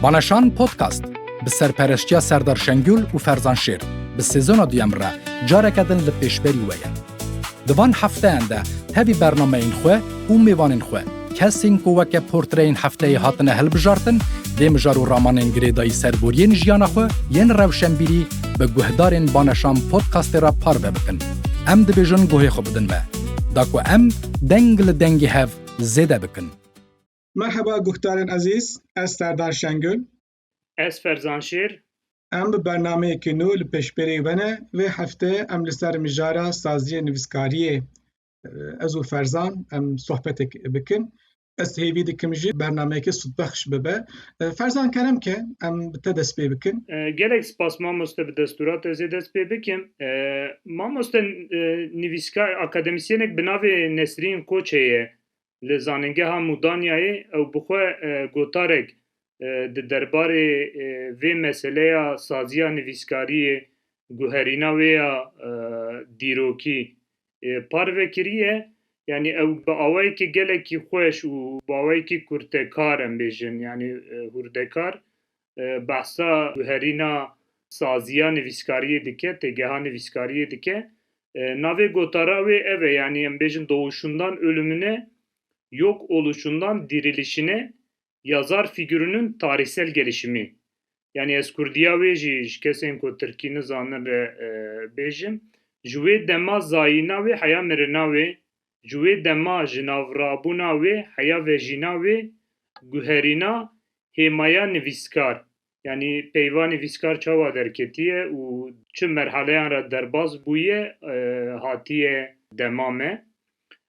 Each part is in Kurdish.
Balaşan Podcast bi serpereştiya Serdar Şengül û Ferzan Şêr bi sezona duyem re careke din li pêşberî we ye. Di van hefteyan de tevî bernameyên xwe û mêvanên xwe kesên ku weke portreyên hefteyê hatine hilbijartin dê mijar û ramanên girêdayî serboriyên jiyana xwe yên rewşenbîrî bi guhdarên Balaşan Podcastê re parve bikin. Em dibêjin guhê xwe bidin me. Da ku em deng li dengê hev zêde bikin. Merheba guhdarên ezîz, ez Serdar Şengül. Ez Ferzan Şêr. Em bi bernameyekî nû li pêşbêrê we ne, vê heftê em li ser mijara saziyê nivîskariyê ez û Ferzan em sohbetek bikin. Ez hêvî dikim jî bernameyekî sûdbexş bibe. Ferzan kerem ke em bi te dest pê bikin. Gelek spas mamoste bi destûra te zê dest pê bikim. Mamoste nivîskar akademisyenek bi navê Nesrîn Koçê ye li Zanîngeha Mûdanyayê ew bi xwe gotarek di derbarê vê meseleya saziya nivîskariyê guherîna wê ya dîrokî parvekiriye yanî ew bi awayekî gelekî xweş û bi awayekî kurtekar em bêjin yanî hûrdekar behsa guherîna saziya nivîskariyê dike têgeha nivîskariyê dike navê gotara wê ev e yanî em bêjin dowuşundan ölümüne yok oluşundan dirîlişine Ya zar fîgurunun tarîhsel gelişimî. Yanî ez kurdîya wê jî ji kesên ku tirkî nizanin re bêjim. Ji wê dema zayîna wê heya mirina wê, ji wê dema ji navrabûna wê heya vejîna wê guherîna hêmaya nivîskar Yanî peyvanê vîskar çawa derketiye û çi merhaleyan re derbas bûye hatiye dema me.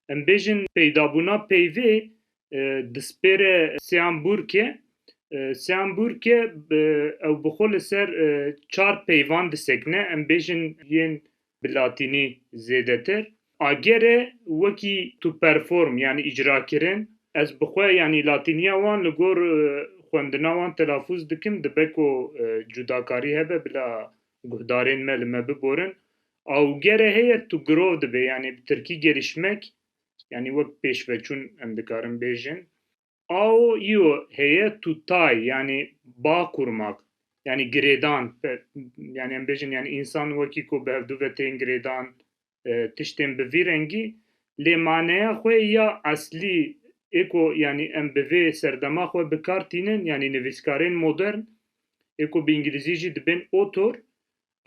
Em bêjin peydabûna peyvê dispêre Sean Burke. Sean Burke ew bi xwe li ser çar peyvan disekine. Em bêjin yên bi latînî zêdetir, agere wekî tu perform yanî îcrakirin, ez bi xwe yanî latîniya wan li gor xwendina wan telafûz dikim, dibe ku cudakarî hebe bila guhdarên me li me biborin, augere heye tu girov dibê, yanî bi tirkî gelîşmek, yanî wek pêşveçûn em dikarin bêjin, Ao io heye tutay yani bağ kurmak yani girêdan yani em bêjin yani insan wekî ku bi hevdu ve tên girêdan e, tiştên bi vî rengî lê maneya xwe ya eslî ê ku yani em bi vê serdema xwe bi kar tînin yani nivîskarên modern ê ku bi îngilîzî jî dibên author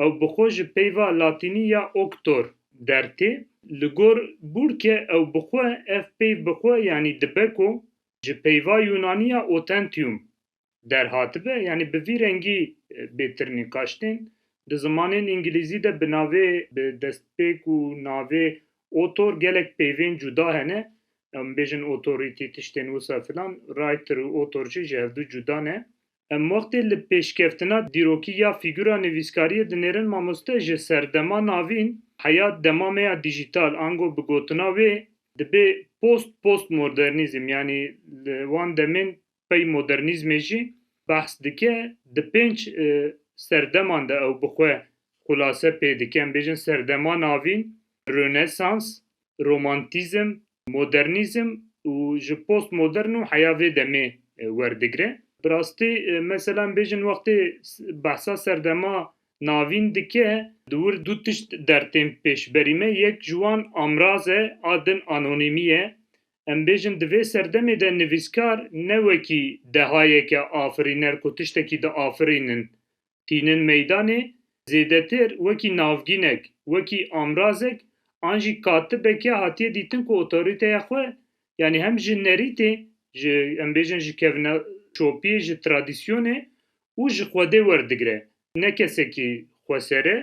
Ew bi xwe ji peyva latînî ya octor der tê. Li gor Burke ew bi xwe ev peyv bi xwe yanî dibe ku ji peyva yûnanî ya autentium der hatibe, yanî bi vî rengî bê tir nîqaş tên. Di zimanên îngilîzî de bi navê bi destpêk û navê autor gelek peyvên cuda hene. Em bêjin authority tiştên wisa filan, writer û author jî ji hevdu cuda ne. Em wextê li pêşkeftina dîrokî ya fîgura nivîskariyê dinêrin mamoste ji serdema navîn heya dema me ya dîjîtal ango bi gotina wê dibê post postmodernîzm yanî li wan demên pey modernîzmê jî behs dike di pênc serdeman de ew bi xwe xulase pê dike em bêjin serdema navîn, rönesans, romantîzm, modernîzm û ji postmodern û heya vê demê werdigre. Bi rastî mesela em bêjin wextê behsa serdema navîn dike di wir du tişt der tên pêşberî me, yek ji wan amraz e a din anonîmî ye. Em bêjin di vê serdemê de nivîskar ne wekî dehayeke afirîner ku tiştekî diafirînin tînin meydanê, zêdetir wekî navgînek, wekî amrazek an jî katibeke hatiye dîtin ku otorîteya xwe yanî hem ji nerîtê, ji em bêjin ji kevneşopiyê, ji tradîsyonê û ji xwedê werdigire, ne kesekî xweser e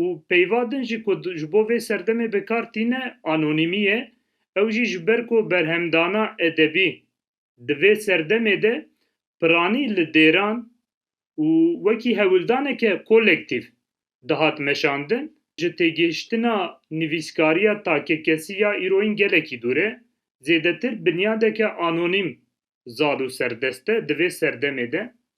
û peyva din jî ku ji bo vê serdemê bikar tîne anonîmî ye, ew jî ji ber ku berhemdana edebî Di vê serdemê de piranî li dêran û wekî hewildaneke kolektîf dihat meşandin, ji têgihiştina nivîskariya takkekesî ya îroyîn gelekî dûr e, zêdetir binyadeke anonîm zal û serdest e di vê serdemê de.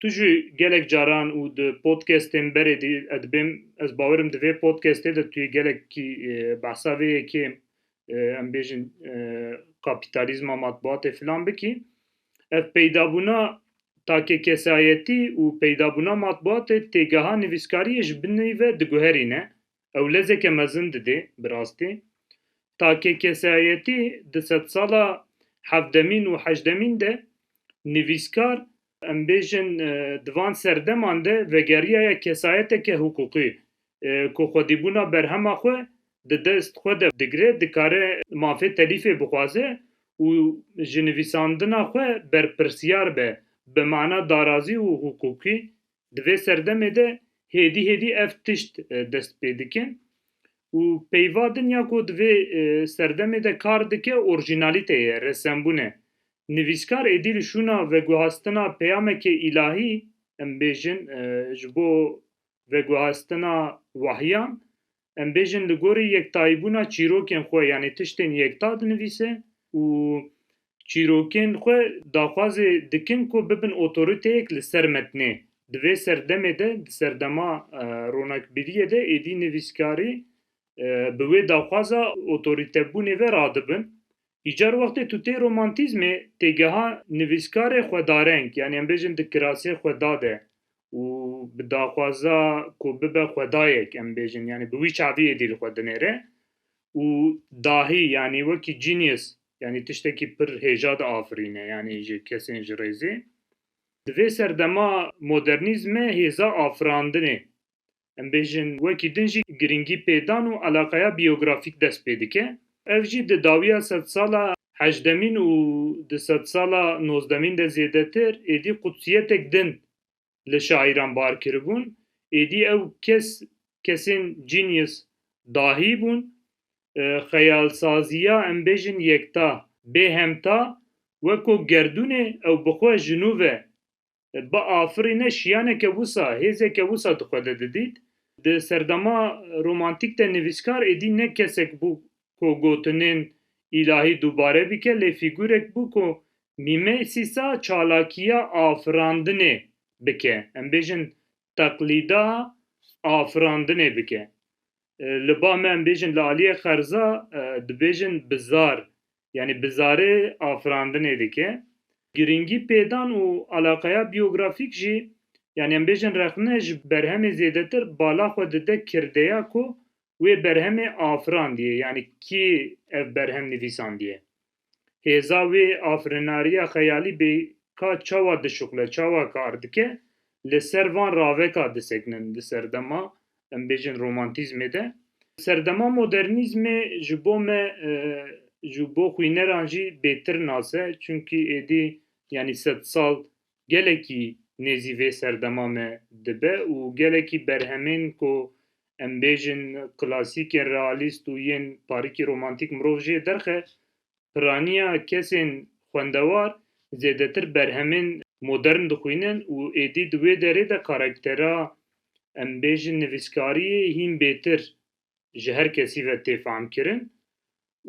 Tu jî gelek caran û di podcastên berê dî ez dibêm ez bawerim di vê podcastê de tu yê gelekî behsa vê yekê em bêjin kapîtalîzma matbuatê filan bikî ev peydabûna takê kesayetî û peydabûna matbuatê têgeha nivîskariyê ji binî ve diguherîne ew lezeke mezin didê bi rastî. Takê kesayetî di sedsala hevdemîn û heşdemîn de nivîskar, em bêjin di van serdeman de vegeriyaye kesayeteke hiqûqî ku xwedîbûna berhema xwe di dest xwe de digire, dikare mafê telîfê bixwaze û ji nivîsandina xwe berpirsiyar be bi mana darazî û hiqûqî Di vê serdemê de hêdî hêdî ev tişt dest pê dike û peyva din ya ku di vê serdemê de kar dike orjînalîte ye, resembûn e. Nivîskar êdî li şûna veguhastina peyameke îlahî, em bêjin ji bo veguhastina wahyan em bêjin li gorî yektayîbûna çîrokên xwe yanî tiştên yekta dinivîse û çîrokên xwe daxwazê dikin ku bibin otoriteyek li ser metnê. Di vê serdemê de, di serdema ronakbiriyê de êdî nivîskarî bi wê daxwaza otoritebûnê ve radibin Îcar wextê tu tê romantîzmê têgeha nivîskarê xwedareng yanî em bêjin di kirasê xweda de û bi daxwaza ku bibe xwedayek em bêjin yanî bi wî çaviyê dîl xwe dinêre û dahî yanî wekî genius yanî tiştekî pir hêja diafirîne yanî ji kesên ji rêzê. Di vê serdema modernîzme hêza afirandinê em bêjin wekî din jî girîngî pêdan û eleqeya biyografîk dest pê dike. Ev jî di dawiya sedsala heşdemîn û di sedsala nozdemîn de zêdetir êdî qudsiyetek din li şaîran bar kiribûn. Êdî ew kes kesên genius dahî bûn. Xeyalsaziya em bêjin yekta, bêhemta weko gerdûnê ew bi xwe ji nû ve biafirîne şiyaneke wisa, hêzeke wisa di xwe de didît. Di serdema romantîk de nivîskar êdî ne kesek bû ku gotinên îlahî dubare bike lê fîgurek bû ku mîmêsîsa çalakiya afirandinê bike, em bêjin teqlîda afirandinê bike. li ba me em bêjin li aliyê xerza dibêjin bizar yanî bizarê afirandinê dike. Girîngî pêdan û alaqeya biyografîk jî yanî em bêjin rexne ji berhemê zêdetir bala xwe dide kirdeya ku wê berhemê afirandiye yanî kî ev berhem nivîsandiye. Hêza wê afirinariya xeyalî bê ka çawa dişuxile, çawa kar dike, li ser van raveka disekinin di serdema em bêjin romantîzmê de. Serdema modernîzmê ji bo me ji bo xwîneran jî bêtir nas e, çunkî êdî yanî sedsal gelekî nêzî vê serdema me dibe û gelekî berhemên ku em bêjin klasîk yên realîst û yên parîkî romantîk mirov jê derxe, piraniya kesên xwendewar zêdetir berhemên modern dixwînin û êdî di wê derê de karaktera em bêjin nivîskariyê hîn bêtir ji her kesî ve tê famkirin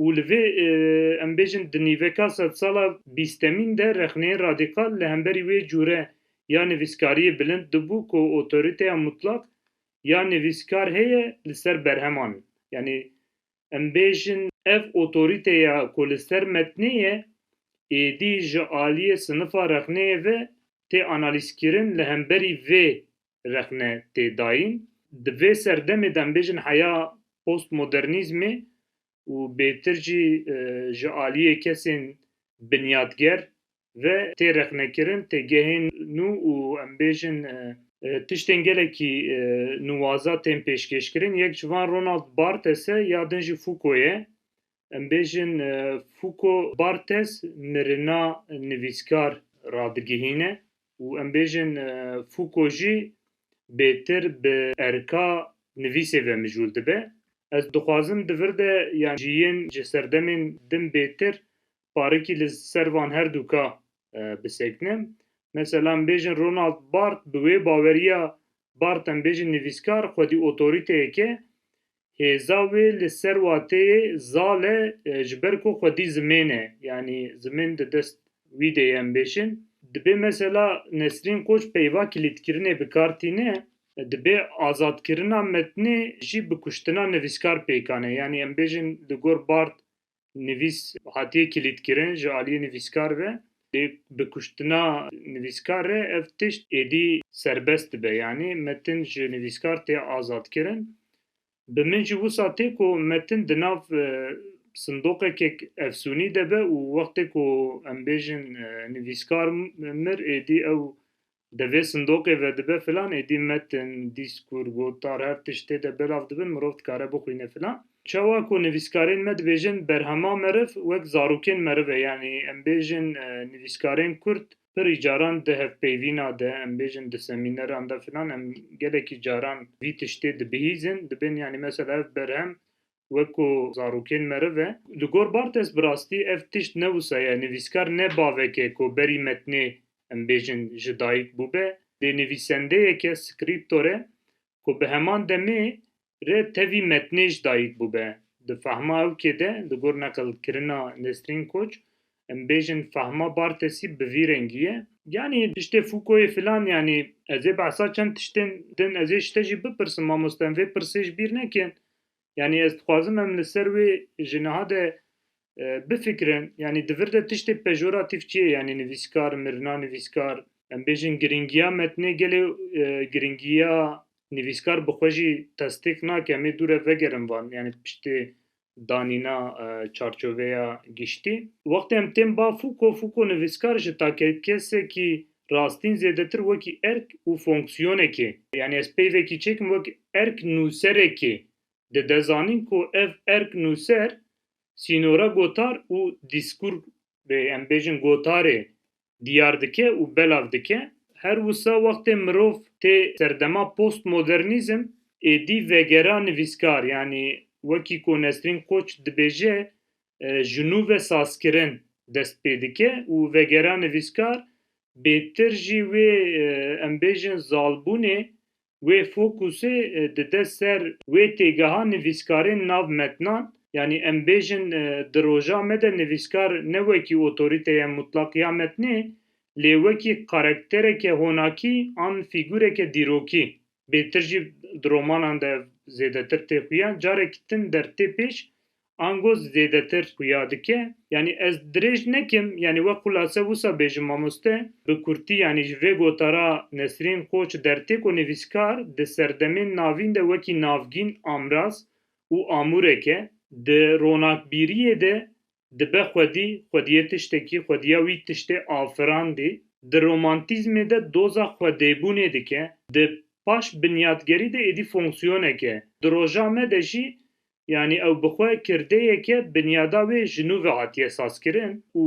û li vê em bêjin di nîveka sedsala bîstemîn de rexneyên radîkal li hemberî wê cûre ya nivîskariyê bilind dibû ku otorîteya mutlak ya nivîskar heye li ser berheman in. Yanî em bêjin ev otorîteya ku li ser metnê ye êdî ji aliyê sinifa rexneyê ve tê analîzkirin li hemberî vê rexne tê dayîn. Di vê serdemê de em bêjin heya postmodernîzmê û bêtir jî ji aliyê kesên binyatger ve tê rexnekirin têgehên nû û em bêjin tiştên gelekî nuwaza tên pêşkêşkirin. Yek ji van Ronald Barthes e ya din jî Foucault ye. Em bêjin Fouco Barthes mirina nivîskar radigihîne û em bêjin Fouco jî bêtir bi erka nivîsê ve mijûl dibe. Ez dixwazim di vir de yan jî yên ji serdemên din bêtir parikî li ser van her du ka bisekinim. Mesela em bêjin Ronald Barth bi wê baweriya Barth em bêjin nivîskar xwedî otoriteyek e hêza wê li ser wateyê zal e ji ber ku xwedî zimên e, yanî zimên di dest wî de ye em bêjin. Dibê mesela Nesrîn Koç peyva kilîtkirinê bi kar tîne, dibê azadkirina metnê jî bi kuştina nivîskar pêkan e, yanî em bêjin li gor Bard nivîs hatiye kilîtkirin ji aliyê nivîskar ve lê bi kuştina nivîskar re ev tişt êdî serbest dibe yanî metin ji nivîskar tê azadkirin. Bi min jî wisa tê ku metin di nav sindoqekek efsûnî de be û wextê ku em bêjin nivîskar mir êdî ew Di vê sindoqê ve dibe filan êdî metin, dîskur, gotar her tişt tê de belav dibin mirov dikare bixwîne filan. Çawa ku nivîskarên me dibêjin berhema meriv wek zarokên meriv e yanî em bêjin nivîskarên kurd pirî caran di hevpeyvîna de em bêjin di semîneran de filan em gelekî caran vî tiştê dibihîzin dibin yanî mesela ev berhem weko zarokên meriv e. Li gor Barthes bi rastî ev tişt ne wisa ye, nivîskar ne bavek e ku berî metnê em bêjin ji dayik bûbe, lê nivîsendeyek e, scriptor e, ku bi heman demê re tevî metnê ji dayik bûbe. Di fehma ew kê de, li gor neqil kirina Nesrîn Koç, em bêjin fehma Barthesî bi vî rengî ye. Yanî tiştê Foucault'ê filan yanî ez ê behsa çend tiştên din ez ê ji te jî bipirsim mamoste em vê pirsê ji bîr nekin Yanî ez dixwazim em li ser wê ji niha de bifikirin. Yanî di vir de tiştê pejoratîf çi ye? Yanî nivîskar, mirina nivîskar. Em bêjin girîngiya metnê gelê girîngiya nivîskar bi xwe jî testêq nake. Em ê dû re vegerin van. Yanî piştê danîna çarçoveya giştî. Wextê em tên ba Fûko, Fûko nivîskar ji take kesekî Rastîn zêdetir wekî erk û fonksiyonekê. Yanî ez pey vekî çêkim wek erk nûserekê. Dide zanîn ku ev erk nûser sînora gotar û dîskur rê em bêjin gotarê diyar dike û belav dike. Her wisa wextê mirov tê serdema postmodernîzm êdî vegera nivîskar yanî wekî ku Nesrîn Koç dibêje ji nû ve sazkirin dest pê dike û vegera nivîskar bêtir jî wê em bêjin zalbûnê wê fokusê dide ser wê têgeha nivîskarên nav metnan, yanî em bêjin di roja me de nivîskar ne wekî otorîteye mutlaq ya metnê lê wekî karektereke honakî an fîgûreke dîrokî bêtir jî di romanan de zêdetir tê xuya carek din der tê pêş ango zêdetir xuya dike. Yanî ez dirêj nekim, yanî wek xulase wisa bêjim mamoste, bi kurtî yanî ji vê gota ra Nesrîn Qoç dertêko nivîskar di serdemên navîn de wekî navgîn amraz û amûrek e. Di ronakbîriyê de dibe xwedî, xwediyê tiştekî, xwediya wî tiştê afirandî. Di romantîzmê de doza xwedêbûnê dike. Di paş binyatgerî de êdî fonksiyonek e. Di roja me de jî Yanî ew bi xwe kirdeyeke binyada wê ji nû ve hatiye sazkirin û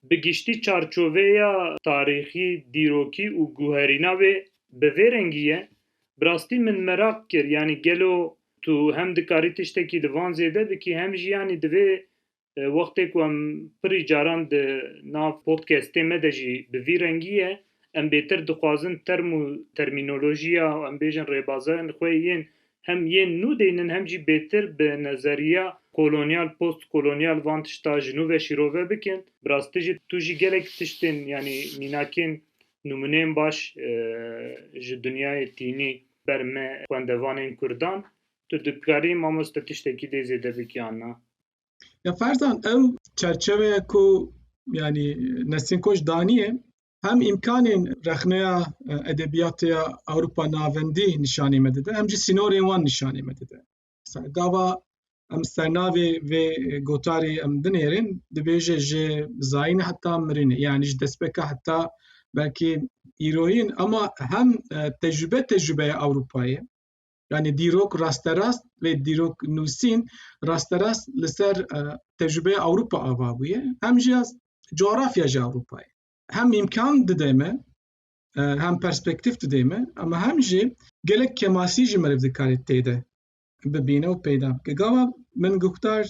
bi giştî çarçoveya tarîxî, dîrokî û guherîna wê bi vê rengî ye. Bi rastî min meraq kir yanî gelo tu hem dikarî tiştekî li van zêde bikî hem jî yanî divê Wextê ku em pirî caran di nav podcastê me de jî bi vî rengî ye, em bêtir dixwazin term û termînolojiya û em bêjin rêbazên xwe yên hem yên nû deynin hem jî bêtir bi nezeriya kolonyal, post-kolonyal van tişta ji nû ve şîrove bikin. Bi rastî jî tu jî gelek tiştên yanî mînakên nimûneyên baş ji dinyayê tînî ber me xwendevanên kurdan. Tu dikarî mamoste tiştekî dê zêde bikî an na? Ya ferzan ew çerçeveye ku yanî Nesîn Koç daniye hem îmkanên rexneya e, edebiyatê ya Ewropa navendî nîşanî me dide hem jî sînorên wan nîşanî me dide. Gava em sernavê vê gotarî em dinêrin dibêje ji zayîn heta mirinê yanî ji destpêka heta belkî îroyîn ama hem e, tecrübe tecrübeya Ewropayê Yani dîrok rasterast vê dîrok nûsîn rasterast li ser e, tecrübeya Ewropa ava bûye hem jî coğrafya ji Ewropayê. Hem imkan dide me e, hem perspektif dide me ama hem jî gelek kemasî ji meriv dikarê têde bibîne û peyda bike. Gava min guhdar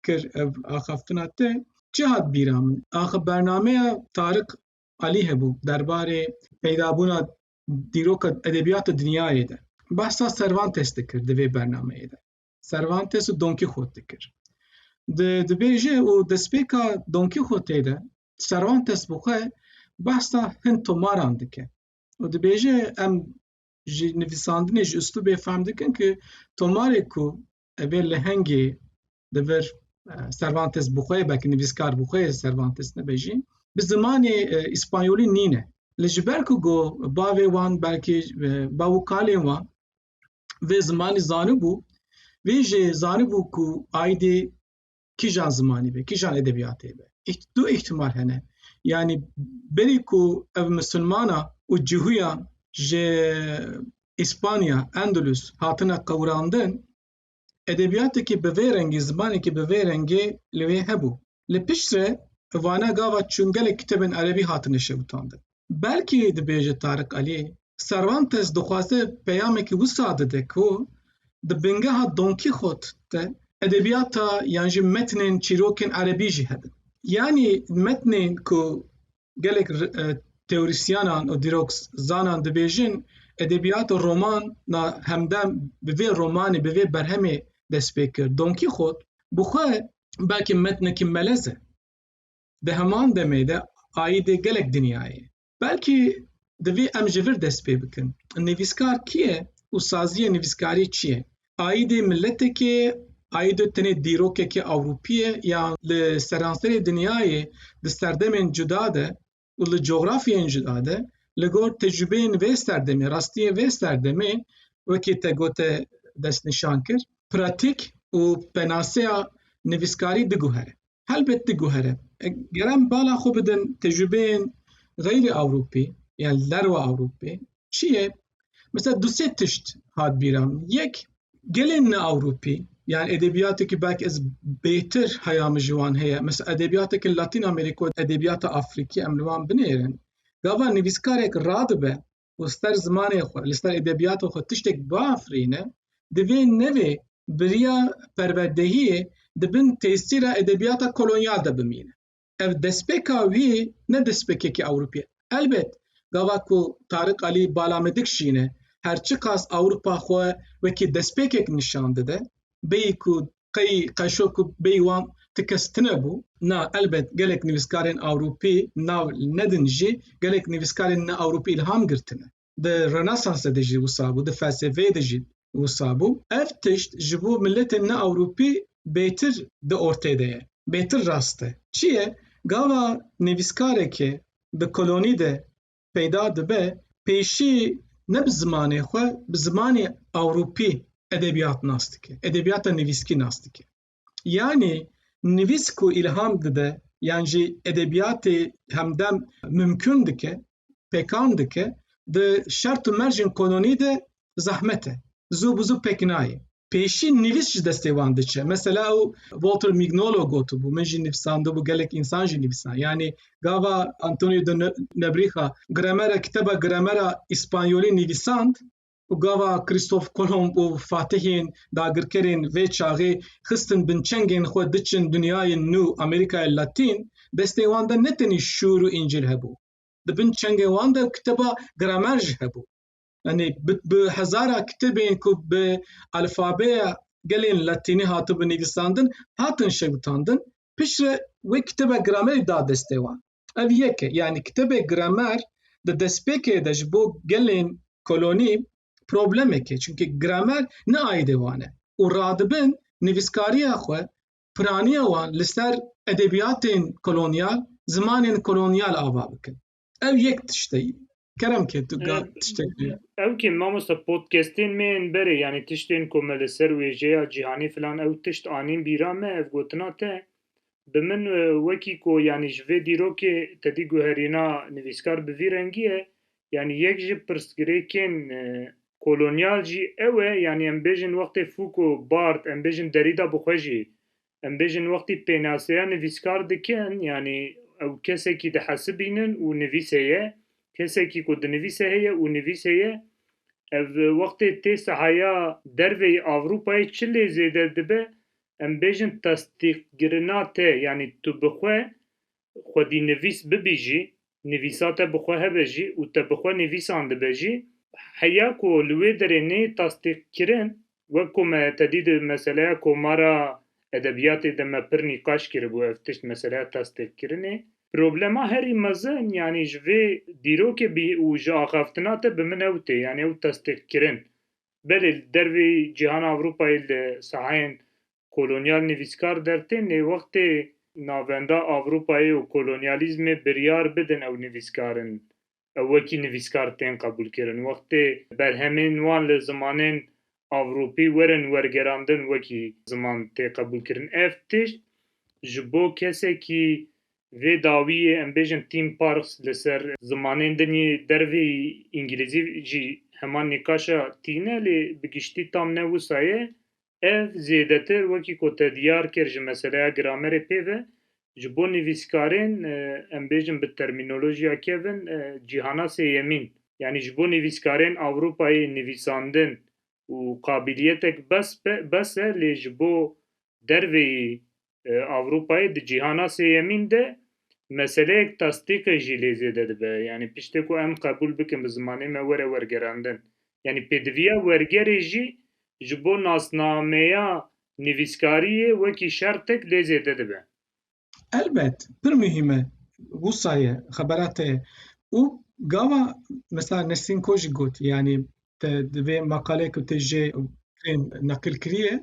kir ev axaftina te çi hat bîra min. Axa bernameya Tarik Alî hebû derbarê peydabûna dîroka edebiyata dinyayê de. Bahsa Cervantes dikir di vê bernameyê de. Cervantes û Don Quixote dikir. Di dibêje û destpêka Don Quixote de Cervantes bi xwe bahsa hin tomaran dike. û dibêje em ji nivîsandinê ji uslûbê fehm dikin ku tomarê ku evê lehengê di vir Cervantes bi xwe belkî nivîskar bi xwe Cervantes nebêjî bi zimanê îspanyolî nîne li ji ber ku got bavê wan belkî bav û kalên wan vê zimanî zanibû vê jê zanibû ku aydê kîjan zimanî be kîjan edebiyatê be du ihtimal hene yanî berî ku ev misilmana û cihûyan ji İspanya, Endülüs hatine qewrandin Edebiyatekî bi vê rengî, zimanekî bi vê rengê li wê hebû. Li pişt re vana gava çûn gelek kitêbên erebî hatine şewitandin. Belkî dibêje Tarik Alî, Servantes dixwaze peyamekî wisa dide ku di bingeha Don Kîxot de edebiyata yan jî metnên çîrokên erebî jî hebin. Yanî metnên ku gelek teorîsyanan û dîrokzanan dibêjin edebiyat û roman na hemdem bi vê romanê bi vê berhemê dest pê kir. Don Kîxot bi xwe belkî metnekî melez e. Di heman demê de aîdê gelek dinyayê. Belkî divê em ji vir dest pê bikin. Nivîskar kî ye û saziyê nivîskarî çi ye? Aîdê miletekê, aîdê tenê dîrokekê ewropî ye ya li seranserê dinyayê di serdemên cuda de û li cografyeyên cuda de li gor tecrûbeyên vê serdemê, rastiyên vê serdemê wekî te gote destnîşan kir, pratîk û penaseya nivîskarî biguhere. helbet diguhere. Ger em bala xwe bidin tecrübeyên xeyrî Ewropî yan li derwa Ewropê çi ye? Mesela du sê tişt hat bîra min. Yek gelên ne Ewropî yan edebiyateke belki ez bêtir heya min ji wan heye. Mesela edebiyateke Latîn Amerîko, edebiyata Afrikî em li wan binêrin. Gava nivîskarek radibe û li ser zimanê xwe, li ser edebiyatê xwe tiştek biafirîne, divê nevê biriya perwerdehiyê di bin tesîra edebiyata kolonyal de bimîne. Ev destpêka wî ne destpêkekî Ewropî ye. Elbet gava ku Tarik Alî balamedik jî ne, her çiqas Ewropa xwe wekî destpêkek nîşan dide, bêyî ku qey qeşo ku bêyî wan ti kes tune bû. Na elbet gelek nivîskarên Ewropî nav nedin jî gelek nivîskarên ne Ewropî îlham girtine. Di Rönesansê de jî wisa bû, di felsefeyê de jî wisa bû. Ev tişt ji bo miletên ne Ewropî bêtir di ortê de ye, bêtir rast e. Çi ye? Gava nivîskarekê di kolonî de peyda dibe pêşî ne bi zimanê xwe bi zimanê ewropî edebiyat nas dike edebiyata nivîskî nas dike yanî nivîs ku îlham dide yan jî edebiyatê hemdem mimkun dike pekan dike di şert û mercên kononî de zehmet e zû bi zû pek nayê pêşî nivîs ji destê wan diçe. Mesela ew Walter Mignolo gotibû, min jî nivîsandibû gelek însan jî nivîsan. Yanî gava Antonio de Nebrîxa gramera kiteba gramera îspanyolî nivîsand û gava Kristof Kolomb û Fatihên dagirkerên vê çaxê xistin binçengên xwe diçin dinyayê nû Amerîkayê Latîn, destê wan de ne tenî şûr û încîl hebû. Di bin çengên wan de kiteba gramer jî hebû. Yanî bi hezara kitêbên ku bi alfabeya gelên latînî hatibûn nivîsandin, hatin şewitandin, piştre wê kitêba gramerî da destê wan. Ev yek e, yanî kitêbê gramer di destpêkê de ji bo gelên kolonî problemek e, çimkî gramer ne aîdê wan e û radibin nivîskariya xwe, piraniya wan li ser edebiyatên kolonyal, zimanên kolonyal ava bikin. Ev yek tişteyî. Kerem ke tu ga tiştek bi. Ew ke mamosta podcastên me yên berê yani tiştên ku me li ser wêjeya cîhanê filan ew tişt anîn bîra me ev gotina te bi min wekî ku yani ji vê dîrokê te dî guherîna nivîskar bi vî rengî ye yani yek ji pirsgirêkên kolonyal jî ew e yani em bêjin wextê Foucault, Barthes em bêjin Derrida bi xwe jî em bêjin wextî pênaseya nivîskar dikin yanî ew kesekî dihesibînin û nivîs heye, kesekî ku dinivîse heye û nivîs heye. Ev wextê tê sahaya derveyî Ewropayê çi lê zêde dibe em bêjin testîqkirina te yanî tu bi xwe xwedînivîs bibî jî, nivîsa te bi xwe hebe jî û te bi xwe nivîsan dibe jî, heya ku li wê derê neyê tasdîqkirin, wek ku me te dî di meseleya komara edebiyatê de me pir nîqaş kiribû ev tişt meseleya tasdîqkirinê, problema herî mezin yanî ji vê dîrokê bî û ji axaftina te bi min ew tê, yanî ew tasdîqkirin. Belê li dervê cîhana Ewropayê li sahayên Kolonyal nivîskar der tên lê wextê navenda Ewropayê û kolonyalîzmê biryar bidin ew nivîskar in. Ew wekî nivîskar tên qebûlkirin. Wextê berhemên wan li zimanên Ewropî werin wergerandin wekî ziman tê qebûlkirin. Ev tişt ji bo kesekî vê dawiyê em bêjin theme parks li ser zimanên din yê dervê îngilîzî jî heman nîqaşa tîne lê bi giştî tam ne wisa ye Ev zêdetir wekî ku te diyar kir ji meseleya gramerê pê ve, ji bo nivîskarên, em bêjin bi termînolojiya kevin, cîhana sêyemîn, yanî ji bo nivîskarên Ewropayê nivîsandin û qabîliyetek bes bes e lê ji bo derveyî Ewropayê di cîhana sêyemîn de meseleyek tastîqê jî lê zêde dibe. Yanî piştê ku em qebûl bikin bi zimanê me were wergerandin. Yanî pêdiviya wergerê jî ji bo nasnameya nivîskariyê wekî şertek lê zêde dibe. Elbet pir muhîm e wisa ye, xebera te ye û gava mesela Nesrîn Kojik got yanî te di vê maqaleyê ku te jê neqil kiriye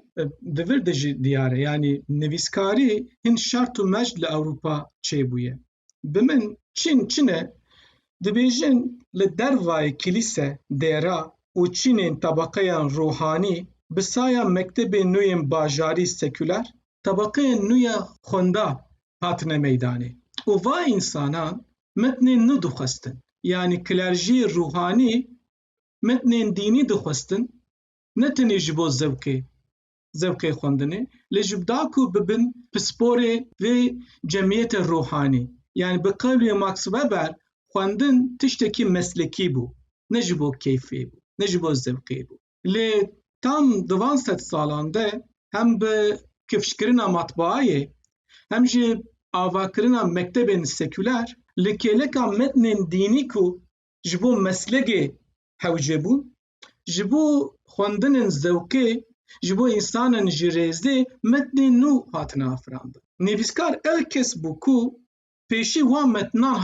di vir de jî diyar e yanî nivîskarî hin şert û mect li Ewropa çêbûye. Bi min Çîn çin e dibêjin li dervayê kilîse, dêra û çînên tebeqeyan ruhanî bi saya mektebên nû yên bajarî sekûler, tebeqeyên nû ya xwenda hatine meydanê û va însanan mitnên nû dixwestin, yanî kilerjiyê rûhanî mitnên dînî dixwestin ne tenê ji bo zevkê zevkê xwendinê lê ji da ku bibin pisporê vê cemiyete rûhanî. Yanî bi qewlê Max Weber xwendin tiştekî meslekî bû ne ji bo keyfê bû ne ji bo zevkê bû. Lê tam di van sed salan de hem bi kifşkirina matbaayê hem jî avakirina mektebên sekûler li kêleka metnên dînî ku ji bo meslege hewce bûn, ji bo xwendinên zewqê, ji bo însanên ji rêzê metnên nû hatine afirandin. Nivîskar ew kes bû ku pêşî wan metinan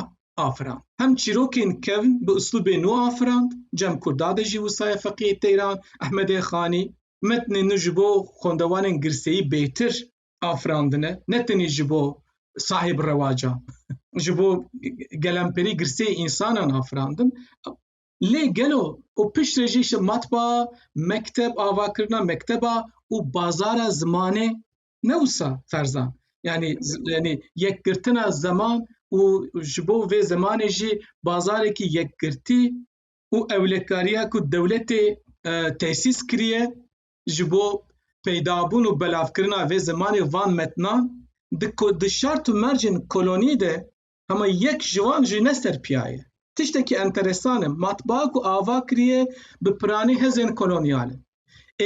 afirand. Hem çîrokên kevn bi uslûbê nû afirand, Cem Kurdade jî wisa ye Feqîyê Teyran, Ehmedê Xanî. Metnên nû ji bo xwendewanên girseyî bêtir afirandine, ne tenê ji bo sahib rewaca, ji bo gelemperî girseyê însanan afirandin. Lê gelo û pişt re jî matbaa, mekteb, avakirina mekteba û bazara zimanê ne wisa ferzan yani yani yekgirtina zeman û ji bo vê zemanê jî bazarekî yekgirtî û ewlekariya ku dewletê e, tesîs kiriye ji bo peydabûn û belavkirina vê zemanê van metnan di di şert û mercên kolonî de Hema yek ji wan jî ne ser piya ye. Tiştekî enteresan e, matbaa ku ava kiriye bi piranî hêzên kolonyal in.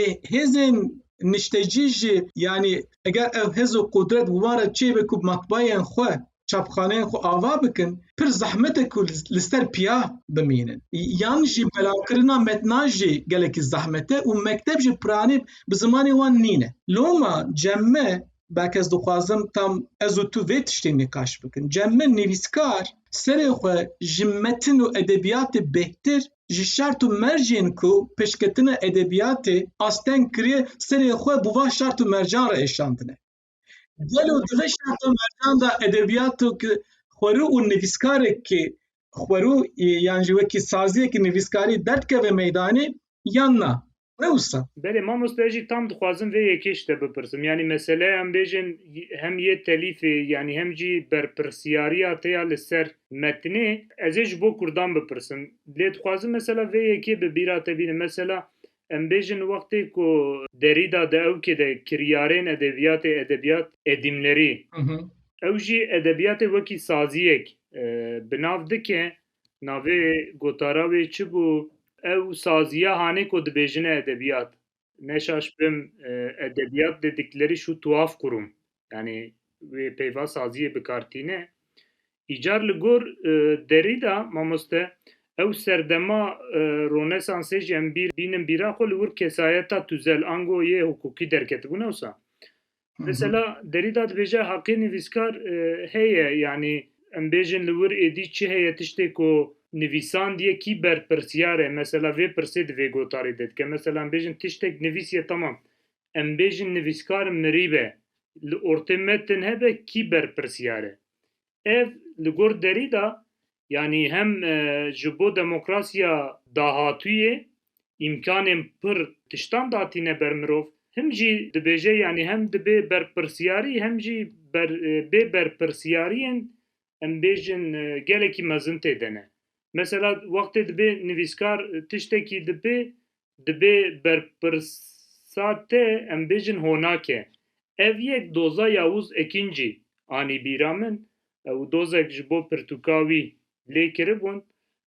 Ê hêzên niştecî jî yanî eger ev hêz û qudret bi wan re çêbe ku matbaayên xwe, çapxaneyên xwe ava bikin, pir zehmet e ku li ser piya bimînin. Yan jî belavkirina metna jî gelekî zehmet e û mekteb jî piranî bi zimanê wan nîne. Loma cem me belkî ez dixwazim tam ez û tu vê tiştê nîqaş bikin. Cem min nivîskar serê xwe ji metin û edebiyatê bêhtir ji şert û mercên ku piştketina edebiyatê asteng kiriye serê xwe bi van şert û mercan re êşandine. Gelo di vê şert û mercan de edebiyatê ki xwerû û nivîskarekî xwerû yan jî wekî saziyekî nivîskarî derdikeve meydanê yan na? Ne usta. Belê mamoste ez jî tam dixwazim vê yekê ji te bipirsim. Yanî meseleya em bêjin hem yê telîfê yanî hem jî berpirsyariya te ya li ser metnê ez ê ji bo kurdan bipirsim. Lê dixwazim mesela vê yekê bi bîra te bînim. Mesela em bêjin wextê ku Derîda di ewkê de kiryarên edebiyatê edebiyat edîmlerî ew jî edebiyatê wekî saziyek bi nav dike Navê gotara wê çi bû? Ew saziya hanê ku dibêjine edebiyat. Ne şaş bim, edebiyat dedikleri şu tuhaf kurum. Yanî wê peyva saziyê bi kar tîne. Îcar li gor Derrida mamoste ew serdema Ronesansê jî em bîr bînin bîra xwe li wir kesayeta tûzel ango yê hukukî derketibûn ewsa Mesela Derrida dibêje heqê nivîskar heye yanî em bêjin li wir êdî çi heye tiştê ku nivîsandiye kî berpirsyar e mesela vê pirsê di vê gotarê de dike. Mesela em bêjin tiştek nivîsiye temam em bêjin nivîskar mirî be li ortê metin hebe kî berpirsyar e. Ev li gor Derîda yanî hem ji bo demokrasiya dahatûyê îmkanên pir tiştan datîne ber mirov, him jî dibêje yanî hem dibe berpirsyarî hem jî bê berpirsyariyên em bêjin gelekî mezin tê de ne. Mesela wextê dibê nivîskar tiştekî dibe Dibê berpirsa te em bêjin honak e. Ev yek doza Yavuz Ekîncî anî bîra min û dozek ji bo pirtûka wî lê kiribûn.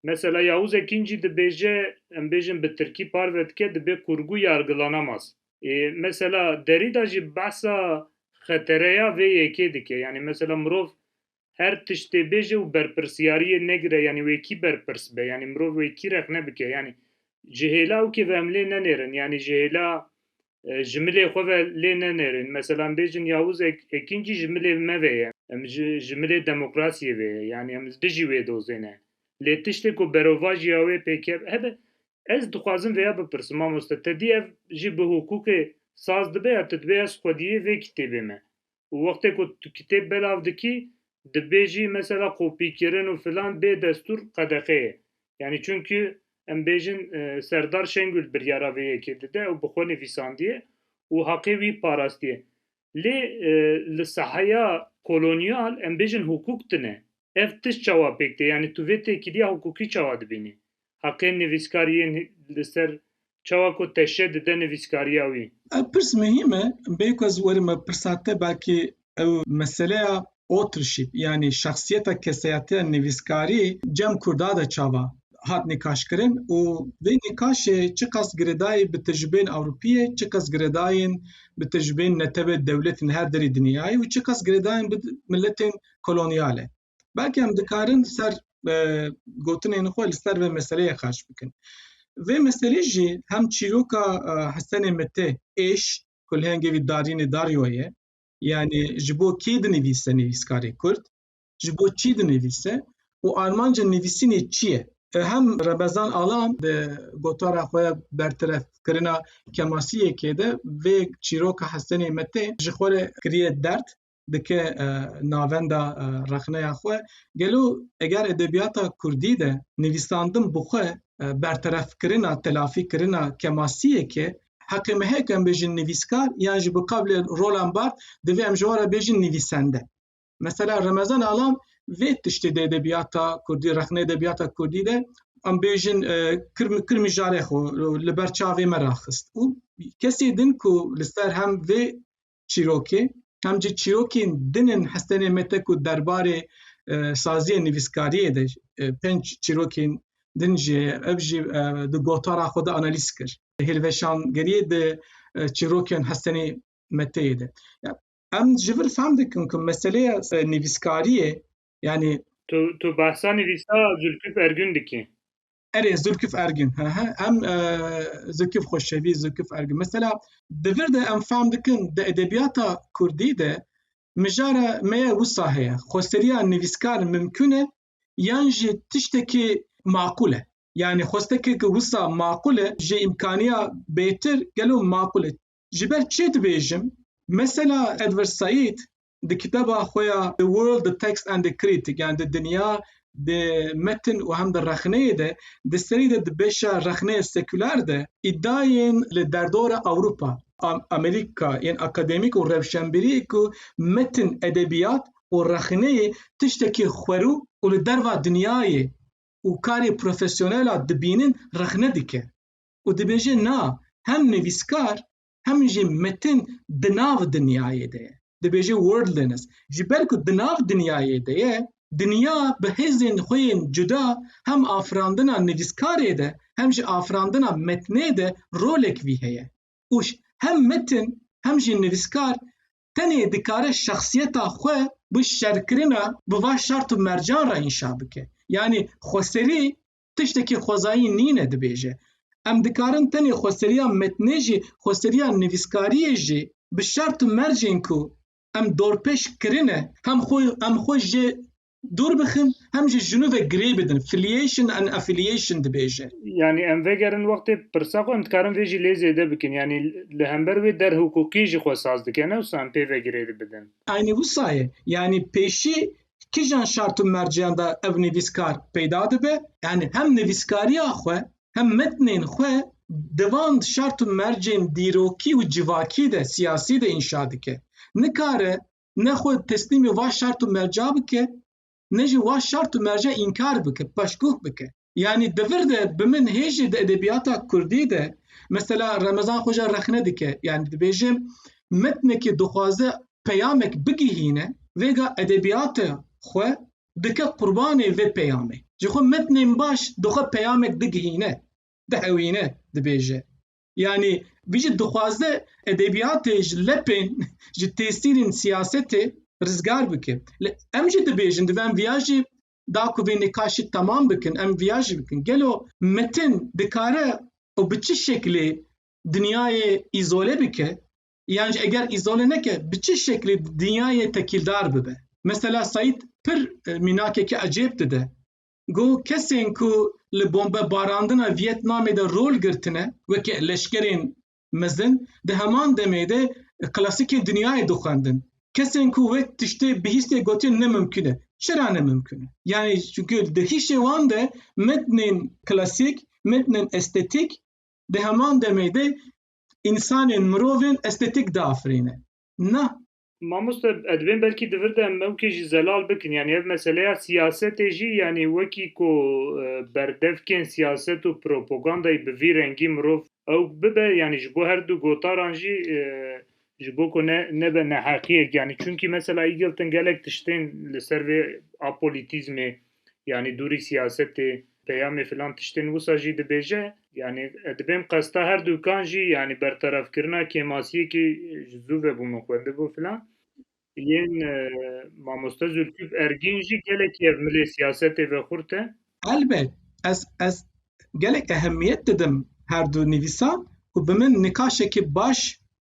Mesela Yavuz Ekîncî dibêje, em bêjin bi tirkî parve dike dibê qûrgû yargılanamas. Ê mesela Derîda jî behsa xetereya vê yekê dike. Yanî mesela mirov Her tiştê bêje û berpirsyariyê negire yanî wê kî berpirs be yanî mirov wê kî rexne bike yanî ji hêla û kê ve em lê nenêrin yanî ji hêla ji milê xwe ve lê nenêrin mesela em bêjin Yavuz Ekîncî ji milê me ve ye em ji milê demokrasiyê ve ye yanî em li dijî wê dozê ne lê tiştê ku berovajiya wê pêkeve hebe ez dixwazim vêya bipirsim mamoste te dî ev jî bi hukûkê saz dibe ya tu dibê ez xwediyê vê kitêbê me û wextê ku tu kitêb belav dikî dibêjî mesela kopîkirin û filan bê destûr qedexe ye. Yanî çimkî em bêjin Serdar Şengûl biryara vê yekê dide û bi xwe nivîsandiye û haqê wî parastiye. Lê li saheya kolonyal em bêjin hukuk tune. Ev tişt çawa pêk tê? Yanî tu vê têkiliya hukukî çawa dibînî? heqên nivîskar yên li ser çawa ku teşe dide nivîskariya wî. Ev pirs muhîm e, bê ku ez werim ev pirsa te belkî ew meseleya authorship yanî şexsiyeta keseyateya nivîskarî cem Kurda de çava hat nîkaşkirin û vê nîkaşê çiqas girêdayî bi tecrûbeyên Ewropîyê, çiqas girêdayîn bi tecrûbeyên netewê dewletên her derî dinyayê û çiqas girêdayîn bi miletên kolonyal e. belkî em dikarin li ser gotinên xwe li ser vê meseleyê xerç bikin. Vê meselê jî hem çîroka Hesenê Mite êş ku li hengê vî darînê daryo ye yanî ji bo kê dinivîse nivîskarê Kurd, ji bo çî dinivîse û armanca nivîsînê çi ye. Hem Remezan Alan di gotara xwe ya bertirefkirina kemasiyekê de vê çîroka Hesenê Mite ji xwe re kiriye derd dike navenda rexneya xwe gelo eger edebiyata Kurdî de nivîsandin bi xwe berterefkirina telafîkirina kemasiyeke heqê me heye ku em bêjin nivîskar yan ji bi qablê rolan bart divê em ji wara bêjin nivîsende. Mesela Remezan Alam vê tiştê de edebiyata Kurdî rexne edebiyata Kurdî de em bêjin kirmi jare xwe li ber çavê me raxist û kesê din ku li ser hem vê çîrokê hem jî çîrokên din in hestenê me te ku derbarê saziyê nivîskariyê de pênc çîrokên din jî heye ev jî di gotara xwe de analîz kir hêlveşangeriyê di çîrokên hestenê me teyê de em ji vir fehm dikin ku meseleya nivîskariyê yanî Tu tu behsa nivîsa Zülküf Ergün dikî? Erê Zülküf Ergin. Em Zülküf Xoşevi, Zülküf Ergin. Mesela devir de em fam dikin de edebiyata Kurdî de mijara meye wisa heye. Xoseriya nivîskar mimkün e yan jî tiştekî maqul e. Yani xostekê ki wisa maqul e ji îmkaniya bêtir gelo maqul e. Ji ber çê dibêjim? Mesela Edward Said di kiteba xwe ya The World, The Text and the Critic yan di dinya di metin û hem di rexneyê de di serî de di beşa rexneyê sekular de îdayên li derdora Ewropa, Amerîka yên akademîk û rewşenbîrî ku metin, edebiyat û rexneyê tiştekî xwerû û li derva dinyayê û karê profesyonel a dibînin rexne dike. û dibêje na hem nivîskar hem jî metin di nav dinyayê de ye. Dibêje worldliness ji ber ku di nav dinyayê de ye, dinya bi hêzên xwe yên cuda hem afirandina nivîskarê de hem jî afirandina metnê de rolek vî heye û hem metin hem jî nivîskar tenê dikare şexsiyeta xwe bi şerkirina bi va şert û mercan re înşa bike. Yanî xweserî tiştekî xwezayî nîne dibêje. Em dikarin tenê xweseriya metnê jî xweseriya nivîskariyê jî bi şert û mercên ku em dorpêş kirine hem xwe em xwe jê dûr bixin hem jî ji nû ve girê bidin filiation and affiliation dibêje. Yanî em vegerin wextê pirsa xwe em dikarin vê jî lê zêde bikin yanî li hember wê der hiqûqî jî xwe saz dike ne wisa em pê ve girê dibidin. Aynî wisa ye yanî pêşî kijan şart û merceyan de ev nivîskar peyda dibe yanî hem nivîskariya xwe hem metnên xwe di van şart û mercên dîrokî û civakî de siyasî de înşa dike nikare ne xwe teslîmê va şart û merca bike ne jî va şart û merca înkar bike paşguh bike Yanî di vir de bi min hê jî di edebiyata Kurdî de mesela Remezan Xoca rexne dike yanî dibêje metnekî dixwaze peyamek bigihîne vêga edebiyata xwe dike qurbanê vê peyamê. Ji xwe metnên baş di xwe peyamek digihîne, dihewîne dibêje. Yanî vî jî dixwaze edebiyatê ji lepên ji têsîrên siyasetê rizgar bike. Li em jî dibêjin divem viya jî da ku vê nîqaşî temam bikin em viya jî bikin gelo metin dikare û bi çi şeklê dinyayê îzole bike yan jî eger îzole neke bi çi şeklê dinyayê tekîldar bibe mesela Saîd pir e, mînakekî ecêb dide got kesên ku li bombebarandina Viyetnamê de rol girtine weke leşkerên mezin di heman demê de klasikên dinyayê dixwendin. Kesên ku wê tiştê bihîstê gotin ne mimkün e. Çira ne mimkün e? Yani çünkü di hişê wan de metnên klasîk, metnên estetîk di heman demê de însanên mirovên estetîk diafirîne. Na, Mamoste edibên belkî di vir de em ewkê jî zelal bikin yanî ev meseleya siyasetê jî yanî wekî ku berdevkên siyaset û propogandayî bi vî rengî mirov ewk bibe yanî ji bo herdu gotaran jî ji bo ku ne nebe neheqiyek yanî çunkî mesela Îgilton gelek tiştên li ser vê apolitîzmê Yanî dûrî siyasetê peyamê filan tiştên wisa jî dibêje. Yanî dibên qesta her dûkan jî yanî bertefkirina kêmasiyekî ji zû ve bû min xwendibû filan. Yên mamoste Zûlkif Ergîn jî gelekî ev milê siyasetê ve xurt e. Elbet ez ez gelek ehemiyet didim her du nivîsan ku bi min nikaşekî baş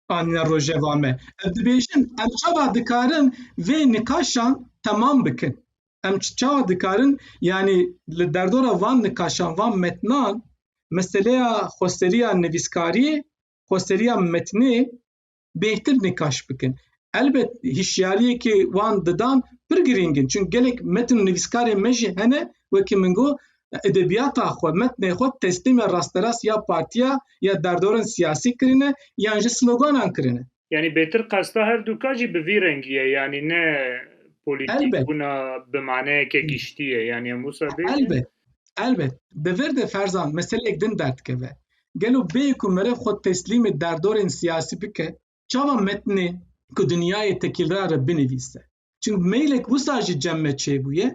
anîne rojeva me. Ev dibêjin em çawa dikarin vê nikaşan temam bikin. Em çawa dikarin yanî li derdora van nikaşan van metnan meseleya xweseriya nivîskariyê xweseriya metnê bêhtir nikaş bikin. Elbet hişyariyekê wan didan pir girîng in çun gelek metin û nivîskarên me jî hene wekî min got edebiyata xwe metnê xwe teslîmê rasterast ya partiya ya derdorên siyasî kirine yan ji sloganan kirine. Yanî bêtir qesta her du ka jî bi vî rengî ye yanî ne polîtîk bûna bi maneyeke giştî ye yanî em wisa bê. Elbet elbet bi vir de ferzan meseleyek din derdikeve. Gelo bê ku meriv xwe teslîmê derdorên siyasî bike çawa metnê ku dinyayê tekîlra re binivîse. Çim meylek wisa ji cem me çêbûye,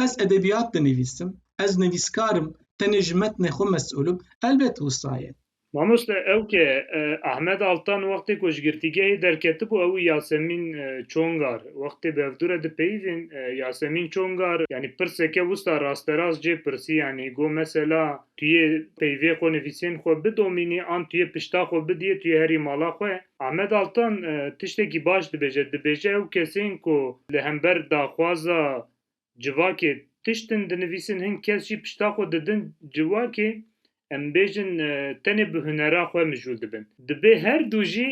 ez edebiyat dinivîsim, ez nivîskar im, tenê ji metnê xwe mesûl im, elbet wisa ye. Mamoste ew ke Ahmed Altan wextê ku ji girtîgehê derketibû ew û Yasemîn Çongar wextê bevdûre dipeyivîn, Yasemîn Çongar yanî pirseke wisa rasterast cê pirsî yanî got mesela tu yê peyvê xwe nivîsên xwe bidomînî an tu yê pişta xwe bidiyê tu yê herî mala xwe. Ahmet Altan tiştekî baş dibêje, dibêje ew kesên ku li hember daxwaza civakê tiştin dinivîsin hin kes jî pişta xwe didin civakê em bêjin tenê bi hunera xwe mijûl dibin. Dibê her du jî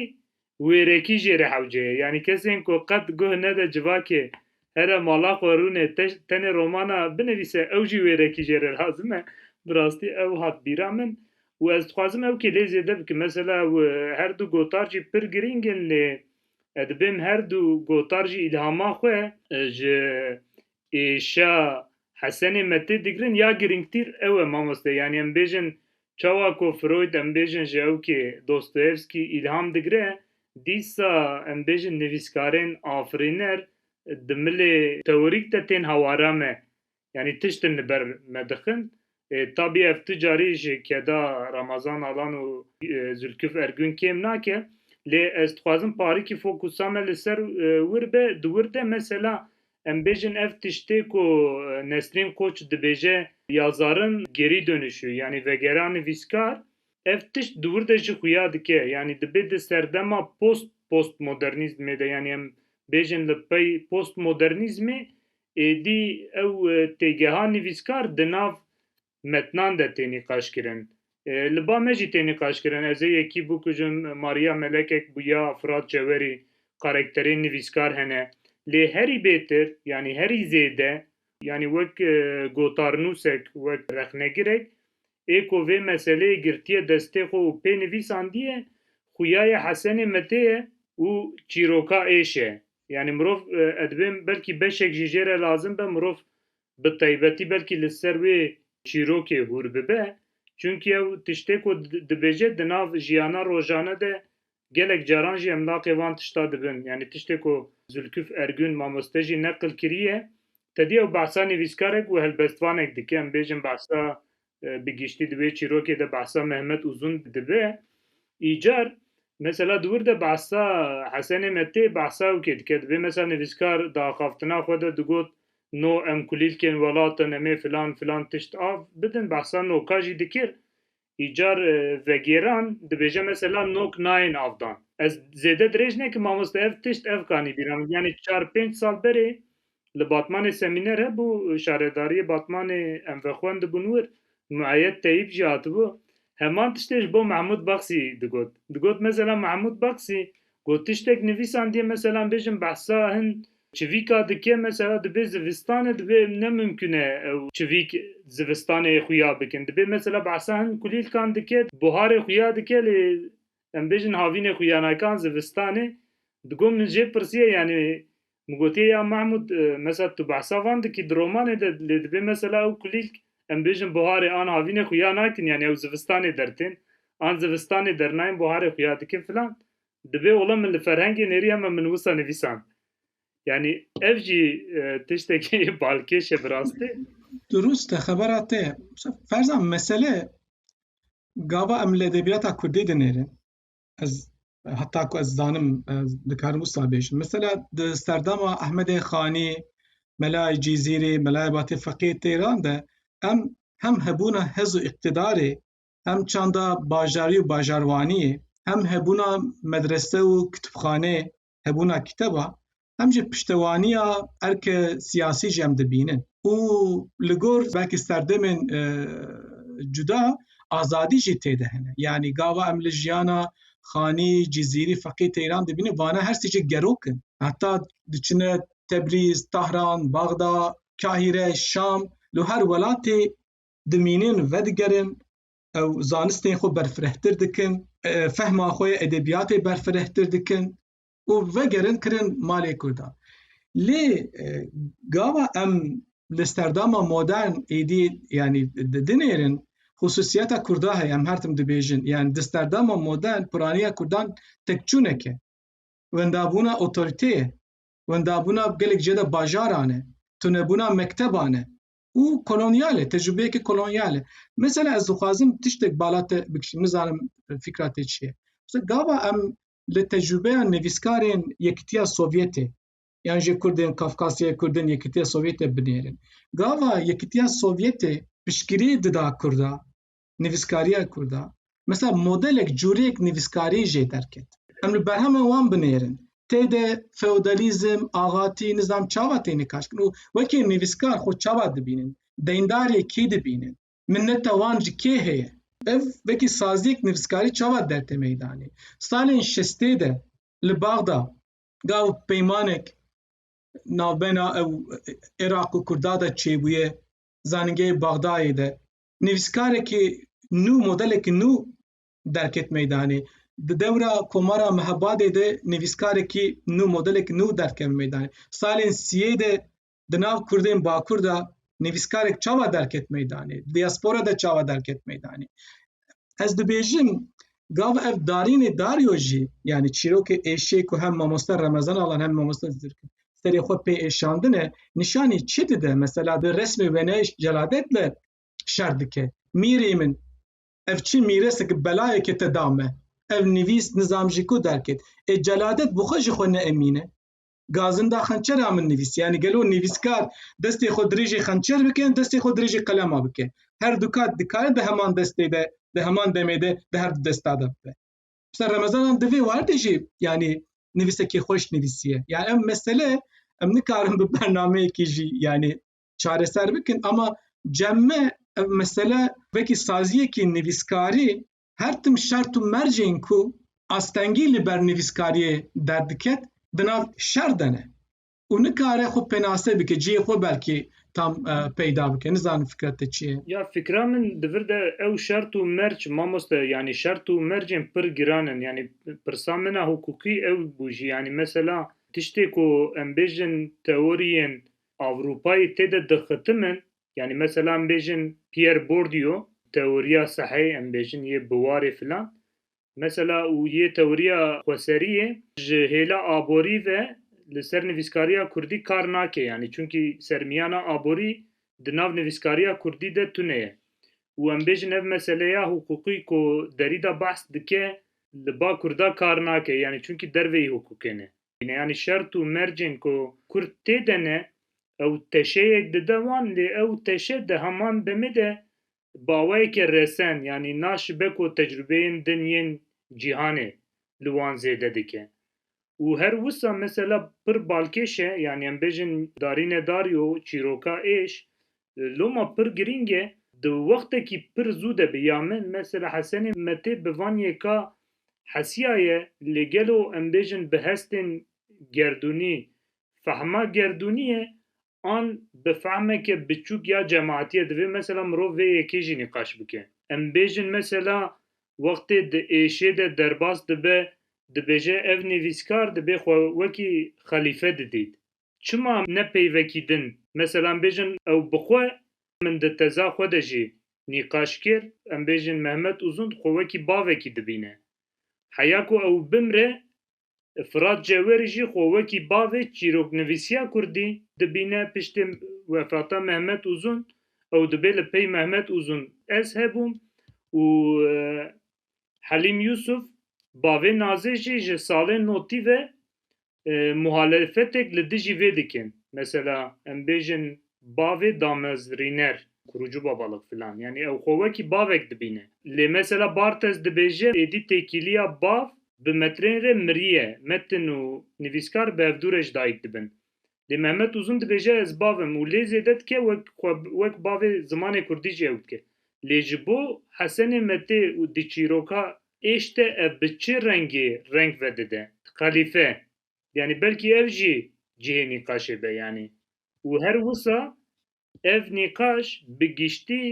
wêrekî jê re hewce ye. Yanî kesên ku qet guh nede civakê Here mala xwe rûnê tenê romana binivîse ew jî wêrekî jê re lazim e. Bi rastî ew hat bîra min û ez dixwazim ew kê lê zêde bikim. Mesela ew her du gotar jî pir girîng in lê ez dibêm her du gotar jî îlhama xwe ji êşa Hesenê Metê digirin ya girîngtîr ew e mamoste yanî em bêjin Çawa ku Freud em bêjin ji ew kê Dostoyevsky îlham digire, dîsa em bêjin nivîskarên afirîner di milê teorîk de tên hawara me, yanî tişt in li ber me dixin. Tabî ev tu carî ji keda Ramazan Alan û Zülküf Ergün kêm nake, lê ez dixwazim parikî fokusa me li ser wir be, di wir de mesela Em bêjin ev tiştê ku Nesrîn Koç dibêje ya zarin gerî dönüşü yanî vegera nivîskar ev tişt di wir de jî xuya dike yanî dibê di serdema post postmodernîzmê de yanî em bêjin li pey postmodernîzmê êdî ew têgeha nivîskar di nav metnan de tê nîqaşkirin. Li ba me jî tê nîqaşkirin. Ez ê yekî bikujim, Maria Melekek bûya, Firat Cewerî, karekterên nivîskar hene. Lê herî bêtir, yanî herî zêde, yanî wek gotarnûsek, wek rexnegirek ê ku vê meseleyê girtiye destê xwe û pê nivîsandiye, xuya ye Hesenê Metê ye û çîroka êş e. Yanî mirov, ez dibêjim belkî beşek jî jê re lazim be, mirov bi taybetî belkî li ser wê çîrokê hûr bibe, çunkî ew tiştê ku dibêje di nav jiyana rojane de gelek caran jî emlaqê van tişta dibin. Yanî tiştê ku Zûlkif Ergûn mamoste jî neqil kiriye, tedî ew behsa nivîskarek û helbestvanek dike, em bêjin behsa Bi giştî di wê çîrokê de behsa Mehmet Uzun dibe. Îcar mesela di wir de behsa Hesenê me tê behsa ew kê dike divê mesela nivîskar di axaftina xwe de digot no em kulîlkên welatin em ê filan filan tişt av bidin behsa noka jî dikir. Îcar vegêran dibêje mesela nok nayên avdan. Ez zêde dirêj nekim mamoste ev tişt ev kanî bîra min yanî çar pênc sal berê Li Batmanê semîner hebû, şaredariyê Batmanê em vexwendibûn wir, Mueyyed Teyîb jî hatibû. Heman tiştê ji bo Mehmûd Baksî digot. Digot mesela Mehmûd Baksî ku tiştek nivîsandiye mesela em bêjin behsa hin çivîka dike mesela dibê zivistanê dibê ne mimkûn e ew çivîk zivistanê xuya bikin dibê mesela behsa hin kulîlkan dike buharê xuya dike lê em bêjin havînê xuya nake an zivistanê digot min jê pirsiye yanî Min gotiye ya Mehmûd mesela tu behsa van dikî di romanê de lê dibê mesela ew kulîlk em bêjin buharê an havînê xwe ya nakin yanî ew zivistanê dertên an zivistanê dernayên buharê xwe ya dikin filan dibê ola min li ferhengê nêrî heme min wisa nivîsand yanî ev jî tiştekî balkêş e bi rastî. Durust e xebera te. Ferza mesele gava em li edebiyata Kurdî dinêrin. ez heta ku ez zanim dikarim wisa bêjim mesela di serdama Ahmedê Xanî Melayê Cîzîrê Melayê Batê Feqê Têran de em hem hebûna hez û îqtîdarê hem çanda bajarî û bajarwaniyê hem hebûna medrese û kitibxaneyê hebûna kiteba hem jî piştewaniya erke siyasî jî em dibînin û li gor belkî serdemên e, cuda azadî jî têde hene yanî gava em li jiyana xanî cizîrî feqî teyran dibîne vana her sê jî gerokin heta diçine tebrîz tahran baxda kahîre şam li her welatê dimînin vedigerin ew zanistên xwe berfirehtir dikin, fehma xwe yê edebiyatê berfirehtir dikin û vegerin kirin malê Kurdan. Lê gava em li sterdama modern êdî yanî dinêrin xusûsiyeta Kurda heye em her tim dibêjin yan di sterdama modern piraniya Kurdan tekçûneke wendabûna otoriteye wendabûna gelek ceda bajaran e tunebûna mekteban e û kolonyal e, tecrübeyekî kolonyal e. Mesela ez dixwazim tiştek bala te bikişînim, nizanim fîkra te çi ye. Mesela gava em li tecrübeya nevîskarên Yekîtiya Sovyetê yan jê Kurdên Kafkasyayê, Kurdên Yekîtiya Sovyetê binêrin. Gava Yekîtiya Sovyetê piştgirî dida Kurda. nivîskariya Kurd a, mesela modelek cureyek nivîskarî jê derket. Em li berhema wan binêrin. Tê de feodalîzm, axatî, nizam çawa tê nikaşkirin û wekî nivîskar xwe çawa dibînin? Deyndariye kî dibînin? Minneta wan ji kê heye? Ev wekî saziyek nivîskarî çawa derte meydanê? Salên şestê de li Baxda gav peymanek navbena ew Iraq û Kurda de çêbûye, zanîngehê Baxdayê de nivîskarekî nû, modelekî nû derket meydanê. Di dewra Komara Mehabadê de nivîskarekî nû, modelekî nû derkeve meydanê. Salên sîyê de di nav Kurdên Bakur de nivîskarek çawa derket meydanê? Di diaspora de çawa derket meydanê? Ez dibêjim gav ev darînê Dario jî yanî çîrokê êşê ku hem mamoste Remezan Alan hem mamoste Zirkî serê xwe pê êşandine nîşanî çi dide mesela di resmê wêneyş celadet de şer dike mîrê min ev çi mîrese ki belayeke te da me ev nivîs nizam jî ku derket ê celadet bi xwe ji xwe neemîne gazinda xençera min nivîs yanî gelo nivîskar destê xwe dirêjê xençer bike destê xwe dirêjê qelema bike her du kat dikare di heman destê de di heman demê de di her du desta de bibe Mesela Remezanan di vê werdê jî yanî nivîsekî xweş nivîsiye. Ya em mesele em nikarin bi bernameyekî jî yanî çareser bikin ama cemme ev mesele vekî saziyekî nivîskarî her tim şert û mercên ku astengî li ber nivîskariyê derdiket di nav şer de ne. û nikare xwe penase bike cihê xwe belkî tam peyda bike nizanim fikra te çi ye ya fikra min di vir de ew şert û merc mamoste yanî şert û mercên pir giran in yanî pirsa min a hukukî ew bû jî yanî mesela tiştê ku em bêjin teoriyên Ewropayê tê de dixitimin yanî mesela em bêjin Pierre Bourdieu teoriya sehê em bêjin yê biwarê filan Mesela û yê tewriya xweseriyê ji hêla aborî ve li ser nivîskariya kurdî kar nake yanî çunkî sermiyana aborî di nav nivîskariya kurdî de tune ye û em bêjin ev meseleya huqûqî ku Derîda behs dike li ba kurda kar nake yanî çunkî derveyî huqûqê ne. Yanî şert û mercên ku kurd tê de ne, ew teşeyek dide wan lê ew teşe di heman demê de Bi awayekî resen yanî naşibe ku tecrubeyên din yên cîhanê li wan zêde dike û her wisa mesela pir balkêş e yanî em bêjin darîne darî û çîroka êş loma pir girîng e di wextekî pir zû de bi ya min mesela Hesenê me tê bi van yê ka hesiyaye lê gelo em bêjin bi hestên gerdûnî fehma gerdûnî ye an bi fehmeke biçûk ya cemaatiyê divê mesela mirov vê yekê jî nîqaş bike. Em bêjin mesela wextê di êşê de derbas dibe dibêje ev nivîskar dibê xwe wekî xelîfe didît. Çima ne pey vekî din mesela em bêjin ew bi xwe min di teza xwe de jî nîqaş kir em bêjin Mehmet Uzun xwe wekî bavekî dibîne. Heya ku ew bimre Firat Cewêrî jî xwe wekî bavê çîroknivîsiya kurdî dibîne, piştî wefata Mehmet Uzun ew dibê li pey Mehmet Uzun ez hebûm û Helîm Yusuf bavê Nazê jî ji salên notî ve muhalefetek li dijî vê dikin. Mesela em bêjin bavê damezrîner kurucu babalık filan yanî ew xwe wekî bavek dibîne. Lê mesela Barthes dibêje êdî têkîliya bav bi metrên rê mirîye, metin û nivîskar bi hevdû re ji dayik dibin. Lê Mehmet Uzun dibêje ez bav im û lê zêde dike wek xwe wek bavê zimanê kurdî jî ew dike. Lê ji bo Hesenê Metê û di çîroka êş de ev bi çi rengê reng vedide? Xelîfe, Yanî belkî ev jî cihê nîqaşê be yanî û her wisa ev nîqaş bi giştî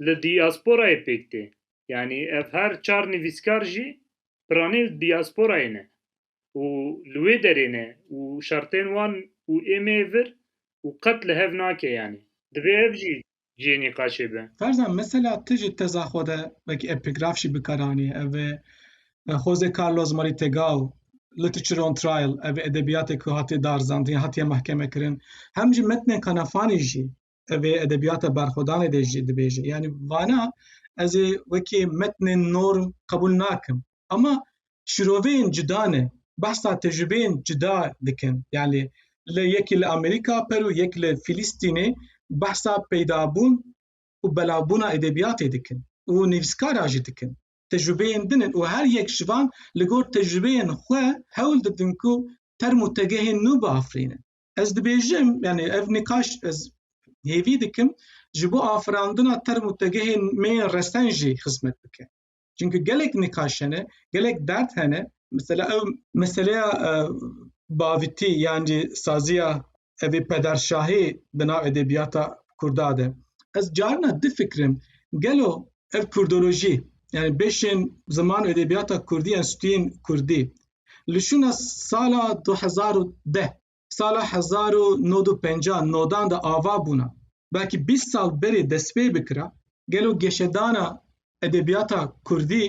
li dîasporayê pêk tê. Yanî ev her çar nivîskar jî piranî li dîasporayê ne û li wê derê ne û şertên wan û êmeyê vir û qet li hev nake yanî. Divê ev jî cihê nîqaşê be. Ferzan mesela tu ji teza xwe de wekî epigraf jî bikar anî ev e Jose Carlos Marie Tegal Literature on Trial ev ê edebiyatê ku hatiye darzandin hatiye mahkeme kirin hem ji metnên Kanafanî jî ev ê edebiyata berxwedanê de jî dibêje yanî vana ez ê wekî metnên norm qebûl nakim Ama şiroveyên cida ne. Behsa tecrübeyên cida dikin. Yani li yekî li Amerîka per û yek li Filîstînê behsa peydabûn û belavbûna edebiyatê dikin û nivîskara jî dikin. Tecrübeyên din in û her yek ji van li gor tecrübeyên xwe hewl didin ku term û tegehên nû biafirînin. Ez dibêjim yani ev nîqaş ez hêvî dikim ji bo afirandina term û tegehên mêyên resen jî xizmet bike. Çunki gelek nîqaş hene, gelek dert hene. Mesela ew meseleya e, bavitî yan jî saziya evê pederşahî bi nav edebiyata kurda de. Ez carina difikirim gelo ev kurdolojî yani beşên ziman û edebiyata kurdî yan stûyên kurdî li şûna sala 2010 sala hezar û nod û penca nodan de ava bûna, belkî bîst sal berê destpê bikira, gelo geşedana edebiyata kurdî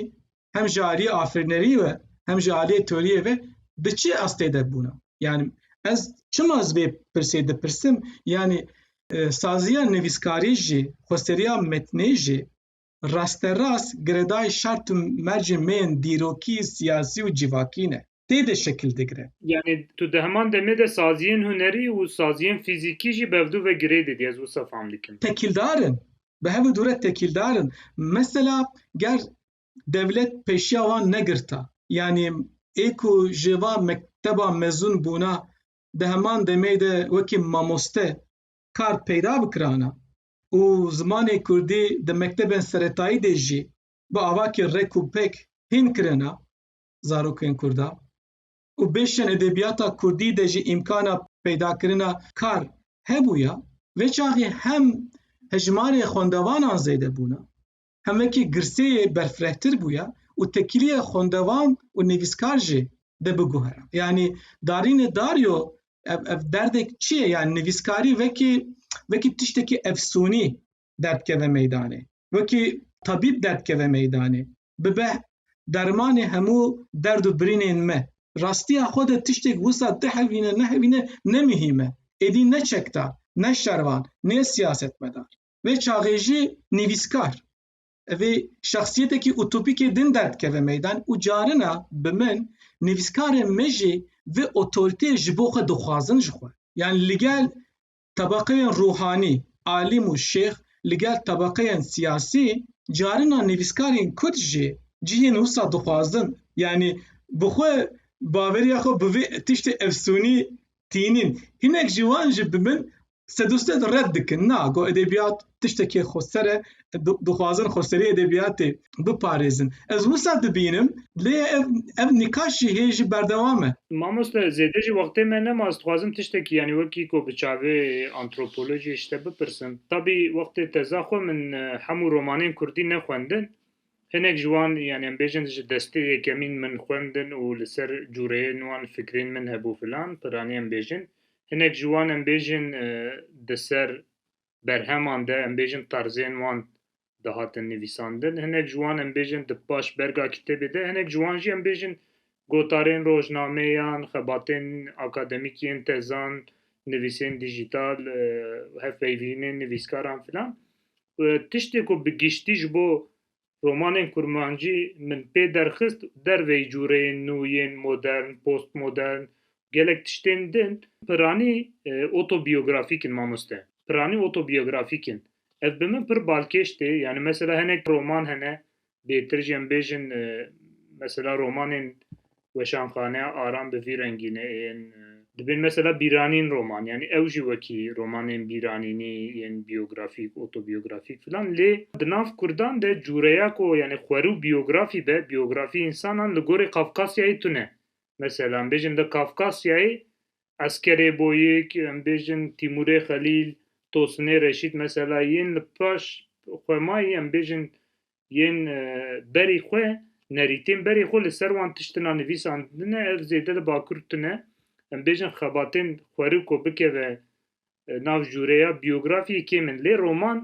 hem ji aliyê afirînerî ve hem ji aliyê teoriyê ve di çi estê de bûna? Yanî ez çima ez vê pirsê dipirsim yanî saziya nivîskarî jî, xweseriya metnê jî rasterast girêdayî şert û mercên me yên dîrokî, siyasî û civakî ne. Tê de şekil digire. Yanî tu di heman demê de saziyên hunerî û saziyên fîzîkî jî bevdu ve girê didî, ez wisa fam dikim. Tekîldar in. Bi hev û dû re tekîldar in. Mesela ger dewlet pêşiya wan negirta, yanî ê ku ji va mekteban mezûn bûna, di heman demê de wekî mamoste kar peyda bikirana, û zimanê kurdî di mektebên seretayî de jî bi avakê rek û pek hîn kirina zarokên kurdan û bêşên edebiyata kurdî de jî îmkana peydakirina kar hebûya, vê çaxê hem hejmarê xwendevanan zêde bûna hemekî girseyê berfirehtir bûye û tekîliyê xwendevan û nivîskar jî de biguhere. Yanî darînê Dario ev ev derdek çi ye yan nivîskarî vekî vekî tiştekî efsûnî derd keve meydanê. Wekî tabîb derd keve meydanê. Bibe dermanê hemû derd û birînên me. Rastiya xwe de tiştek wisa dihevîne nehevîne ne mihîme. Êdî ne çekdar, ne şervan, nê siyasetmedar. Vê çaxê jî nivîskar vê şexsiyetekî utopîkê din derdikeve meydan û carina bi min nivîskarên me jî vê otoritê ji bo xwe dixwazin ji xwe. Yan li gel tebeqeyên ruhanî, alîm û şêx, li gel tebeqeyên siyasî carina nivîskarên kurd jî cihên wisa dixwazin yanî bi xwe baveriya xwe bi vê tiştê efsûnî tînîn. Hinek ji wan jî bi min Sedusted red dikin na ku edebiyat tiştekê xweser e, dixwazin xweserî edebiyatê biparêzin. Ez wisa dibînim lê ev ev nîqaş jî hê jî berdewam e. Mamoste zêde jî wextê me nema ez dixwazim tiştekî yanî wekî ku bi çavê antropolojî ji te bipirsim. Tabî wextê teza xwe min hemû romanên kurdî nexwendin Hinek ji wan yanî em bêjin ji destê yekemîn min xwendin û li ser cureyên wan fikrên min hebû filan piranî em bêjin. Hinek ji wan em bêjin di ser berheman de em bêjin tarzên wan dihatin nivîsandin. Hinek ji wan em bêjin di paş berga kitêbê de. Hinek ji wan jî em bêjin Gotarên rojnameyan, xebatên akademîk yên tezan, nivîsên dîjîtal, hevpeyvînên nivîskaran filan. Tiştê ku bi giştî ji bo romanên kurmancî min pê derxist derveyî cûreyên nû yên modern, postmodern û gelek tiştên din, piranî otobîyografîk in mamoste. Piranî otobîyografîk in. Ev bi min pir balkêş tê. Yanî mesela hinek roman hene bêtir jî em bêjin mesela romanên weşanxaneya aram bi vî rengîne ên dibên mesela bîranîn roman yanî ew jî wekî romanên bîranînî yên biyografîk otobiyografîk filan lê di nav kurdan de cûreya ku yanî xwerû biyografî be biyografî însanan li gorî kafkasyayê tune mesela bêjin de kafkasyayê Eskerê Boyik, em bêjin Tîmurê Xelîl, Tosinê Reşît mesela yên li paş xwe mayî em bêjin yên berî xwe, nerîtên berê xwe li ser wan tiştina nivîsandine ev zêde li bakur tune. Em bêjin xebatên xweriko bikeve nav jûreya biyografiyê kêm in lê roman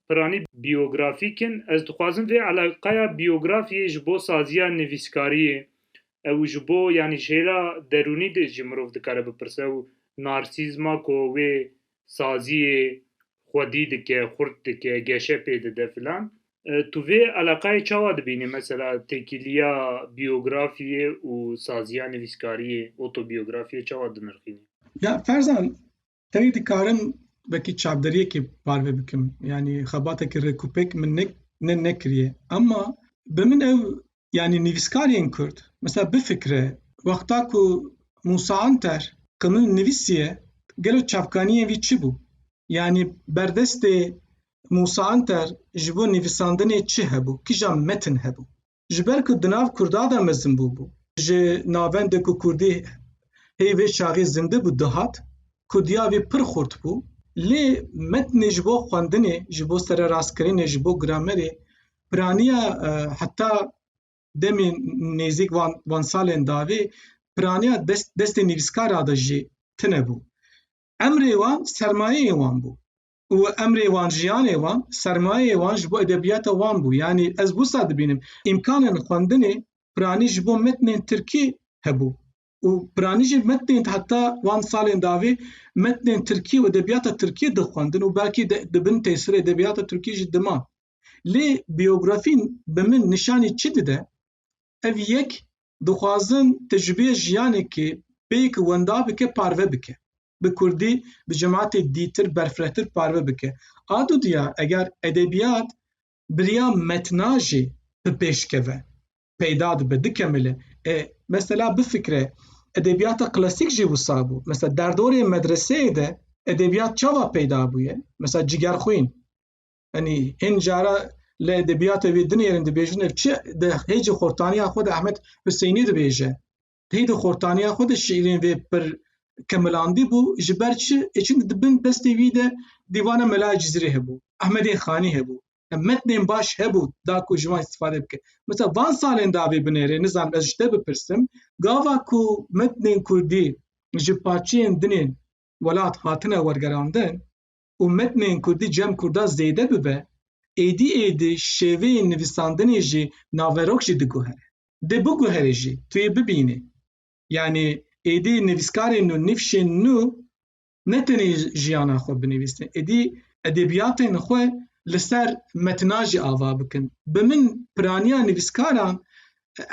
piranî biyografîk in. Ez dixwazim vê eleqeya biyografiyê ji bo saziya nivîskariyê û ji bo yanî ji hêla derûnî de jî mirov dikare bipirse û narsîzma ku wê saziyê xwedî dike, xurt dike, geşe pê dide filan. Tu vê eleqeyê çawa dibînî mesela têkiliya biyografiyê û saziya nivîskariyê, otobiyografiyê çawa dinirxînî? Ya ferzan Tenê dikarim wekî çavderiyekê parve bikim. Yanî xebatekî rêkûpêk min ne ne nekiriye. Ema bi min ew yanî nivîskarên Kurd mesela bifikire wexta ku Musa Anter qimil nivîsiye gelo çavkaniyên vî çi bû? Yanî berdestê Musa Anter ji bo nivîsandinê çi hebû? Kija metin hebû? ji ber ku di nav Kurdan de mezin bû bû. Ji navendê ku Kurdî hê vê çaxê zinde bû dihat, Kurdiya wî pir xurt bû. Lê metnê ji bo xwendinê, ji bo sererastkirinê, ji bo gramerê piraniya heta demê nêzîk van van salên davê piraniya dest destê nivîskara de jî tine bû. Emrê wan sermayeyê wan bû. û emrê wan, jiyanê wan, sermayeyê wan ji bo edebiyata wan bû. Yanî ez wisa dibînim îmkanên xwendinê piranî ji bo metnên tirkî hebû û piranî jî metnên heta wan salên davê metnên tirkî û edebiyata tirkî dixwendin û belkî di bin tesirê edebiyata tirkî jî diman. Lê biyografîn bi min nîşanî çi dide? Ev yek dixwazin tecrûbeyê jiyanekê pêk wenda bike parve bike. Bi kurdî bi cematê dîtir berfirehtir parve bike. A du diyar eger edebiyat bi riya metna jî bi pêş keve peyda dibe dikemile. E mesela bifikre edebiyata klasîk jî wisa bû. Mesela derdorê medreseyê de edebiyat çawa peyda bûye? Mesela Cigerxwîn. Enî hin cara li edebiyatê wê dinêrin dibêjin ev çi di hê ji xortaniya xwe de Ahmet Hüseynî dibêje. Hê di xortaniya xwe de şîirên vê pir kemilandî bû ji ber çi ê çunki di bin destê wî de dîvana Melaya Cizîrê hebû, Ahmedên Xanî hebû. Em metnên baş hebû da ku ji wan îstîfade bike. Mesela van salên da vê binêrê nizanim ez ji te bipirsim gava ku metnên kurdî ji parçeyên dinên welat hatine wergerandin, û metnên kurdî cem kurda zêde bibe, êdî êdî şêveyên nivîsandinê jî naverok jî diguhere. Dê biguhere jî, tu yê bibînî. Yanî êdî nivîskarên nû, nîvşên nû ne tenê jiyana xwe binivîsin, êdî edebiyatên xwe li ser metna jî ava bikin. Bi min piraniya nivîskaran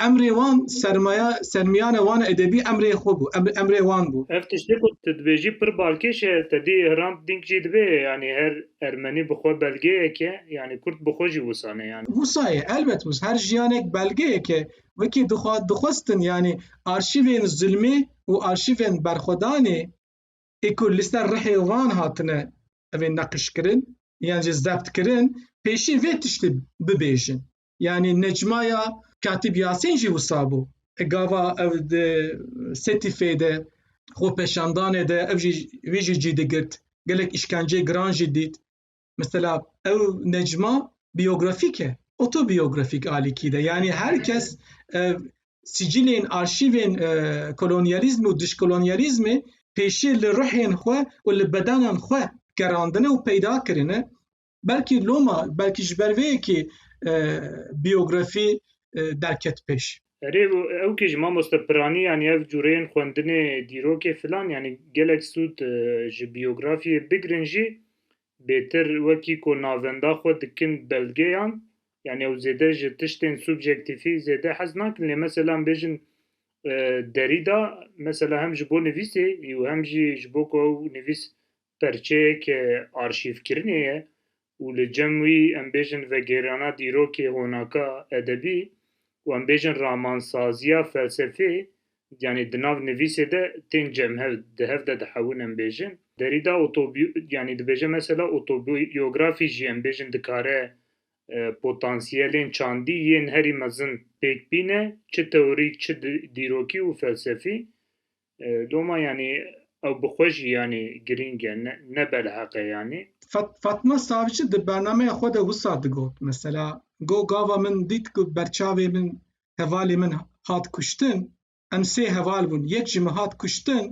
emrê wan sermaya sermiyane wan edebî emrê xwe bû emrê wan bû. Ev tiştê ku tu dibêjî pir balkêş e tedî Hrant Dink jî dibê yanî her ermenî bi xwe belgeyeke yanî kurt bi xwe jî wisane yanî. Wisa ye elbet wis her jiyanek belgeyeke wekî dixwa dixwestin yanî arşîvên zilmê û arşîvên berxwedanê ê ku li ser rihê wan hatine evê neqîşkirin yan jî zebtkirin pêşî vê tiştê bibêjin. yanî necmaya Katîb Yasîn jî wisa bû. E gava ev di Setîfê de xwepeşandanê de ev jî wî jî cî digirt. Gelek îşkenceyê giran jî dît. Mesela ew necma biyografîk e, otobiyografîk alîkî de. Yanî her kes ev sicilên arşîvên e, kolonyalîzm û dişkolonyalîzmê pêşî li ruhên xwe û li bedenan xwe gerandine û peyda kirine. belkî loma belkî ji ber vê yekê e, biyografî e, derket pêş. Erê ew kî ji mamoste piranî yanî ev cûreyên xwendinê dîrokê filan yanî gelek sûd e, ji biyografiyê bigirin jî bêtir wekî ku navenda xwe dikin belgeyan yanî ew zêde ji tiştên subjektîfî zêde hez nakin lê mesela em bêjin e, Derrida mesela hem ji bo nivîsê û hem jî ji bo ku ew nivîs perçeyek arşîvkirinê ye û li cem wî em bêjin vegêrana dîrokê honaka edebî û em bêjin ramansaziya felsefê yanî di nav nivîsê de tên cem hev di hev de dihewin em bêjin. Derîda otobi yanî dibêje mesela otobiyografî jî em bêjin dikare potansiyelên çandî yên herî mezin pêk bîne çi teorîk çi dîrokî û felsefî. Doma yanî ew bi xwe jî yanî girîng e, ne belheq e yanî. Fatma Savcı di bernameya xwe de wisa digot, mesela Go gava min dît ku berçavê min hevalê min hat kuştin, em sê heval bûn, yek ji min hat kuştin,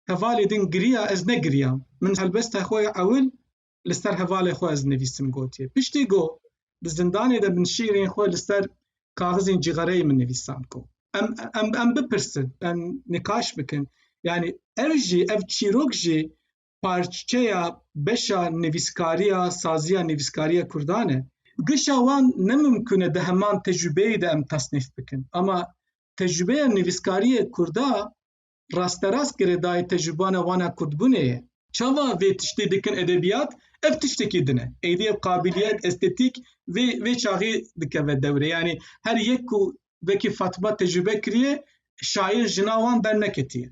hevalê din giriya ez negiriyam. Min helbesta xwe ya ewil li ser hevalê xwe ez nivîsim gotiye. Piştî got, di zindanê de min şîrên xwe li ser kaxizên cîgereyê min nivîsan ku em em em bipirsin, em nikaş bikin. Yani ev jî ev çîrok jî parçeya beşa nivîskariya saziya nivîskariya Kurdan e. Gişa wan ne mimkun e di heman tecrübeyê de em tasnîf bikin. Ama tecrübeya nivîskariya Kurda rasterast girêdayî tecrûbana wan a kurdbûnê ye. Çawa vê tiştê dikin edebiyat? Ev tiştekî din e. Êdî ev qabiliyet, estetîk vê vê çaxê dikeve dewre. Yanî her yek ku vekî Fatima tecrûbe kiriye, şaîr jina wan berneketiye.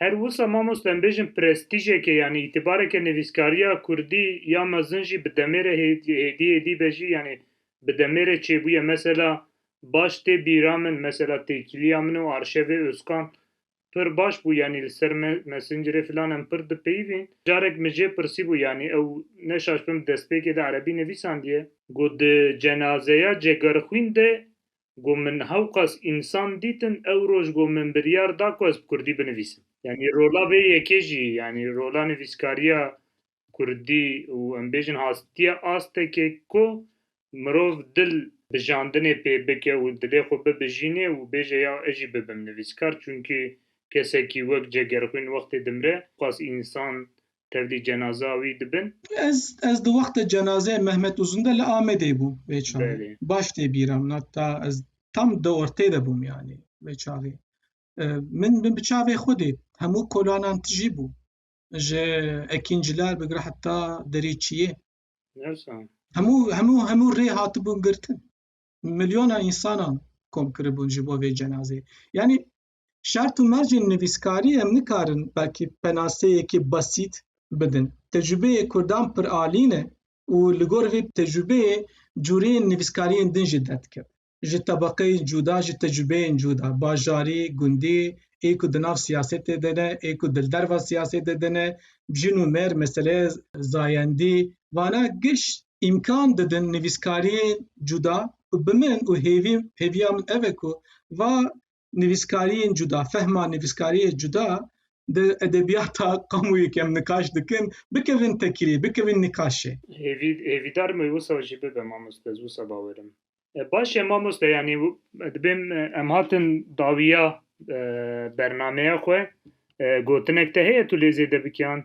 Her wisa mamoste em bêjin prestîjeke yanî îtîbareke nivîskariya kurdî ya mezin jî bi demê re hêdî hêdî hêdî be jî yanî bi demê re çêbûye. Mesela baş tê bîra min mesela têkiliya min û arşevê Ozkan pir baş bû yanî li ser messengerê filan em pir dipeyivîn. Carek min jê pirsîbû yanî ew ne şaşbim destpêkê de erebî nivîsandiye. Got di cenazeya Cegerxwîn de got min hewqas însan dîtin ew roj got min biryar da ku ez bi kurdî binivîsim. Yanî rola vê yekê jî yanî rola nivîskariya Kurdî û em bêjin hastiya astekê ku mirov dil bijandinê pê bike û dilê xwe bibijînê û bêje ya ez jî bibim nivîskar çunkî kesekî wek Cegerxwîn wextê dimre qas însan tevlî cenaza wî dibin. Ez ez di wexta cenazeyê Mehmet Uzun de li Amedê bûm vê çavê. Baş tê bîra min heta ez tam di ortê de bûm yanî vê çavê. Min min bi çavê xwe dît hemû kolanan tijî bû. ji ekînciler bigire heta derî çiyê hemû hemû hemû rê hatibûn girtin milyona însanan kom kiribûn ji bo vê cenazeyê yanî şert û mercên nivîskarî em nikarin belkî penaseyekî besît bidin tecrübeyê kurdan pir alî ne û li gor vê tecrübeyê cureyên nivîskariyên din jî derdikevin ji tebeqeyên cuda, ji tecrübeyên cuda, bajarî, gundî, ê ku di nav siyasetê de ne, ê ku di derva siyasetê de ne, jin û mêr, meseleya zayendî, vana giş îmkan didin nivîskariyên cuda ku bi min û hêvî hêviya min ev e ku va nivîskariyên cuda, fehma nivîskariyê cuda di edebiyata qamûyê kem nikaş dikin, bikevin tekirî, bikevin nikaşê. Hêvî, hêvîdar me wisa jî bibe mamoste, ez wisa bawer im. E, baş e mamoste, yanî dibê em hatin dawiya e, bernameya xwe, e, gotinek te heye tu lê zêde bikiyan?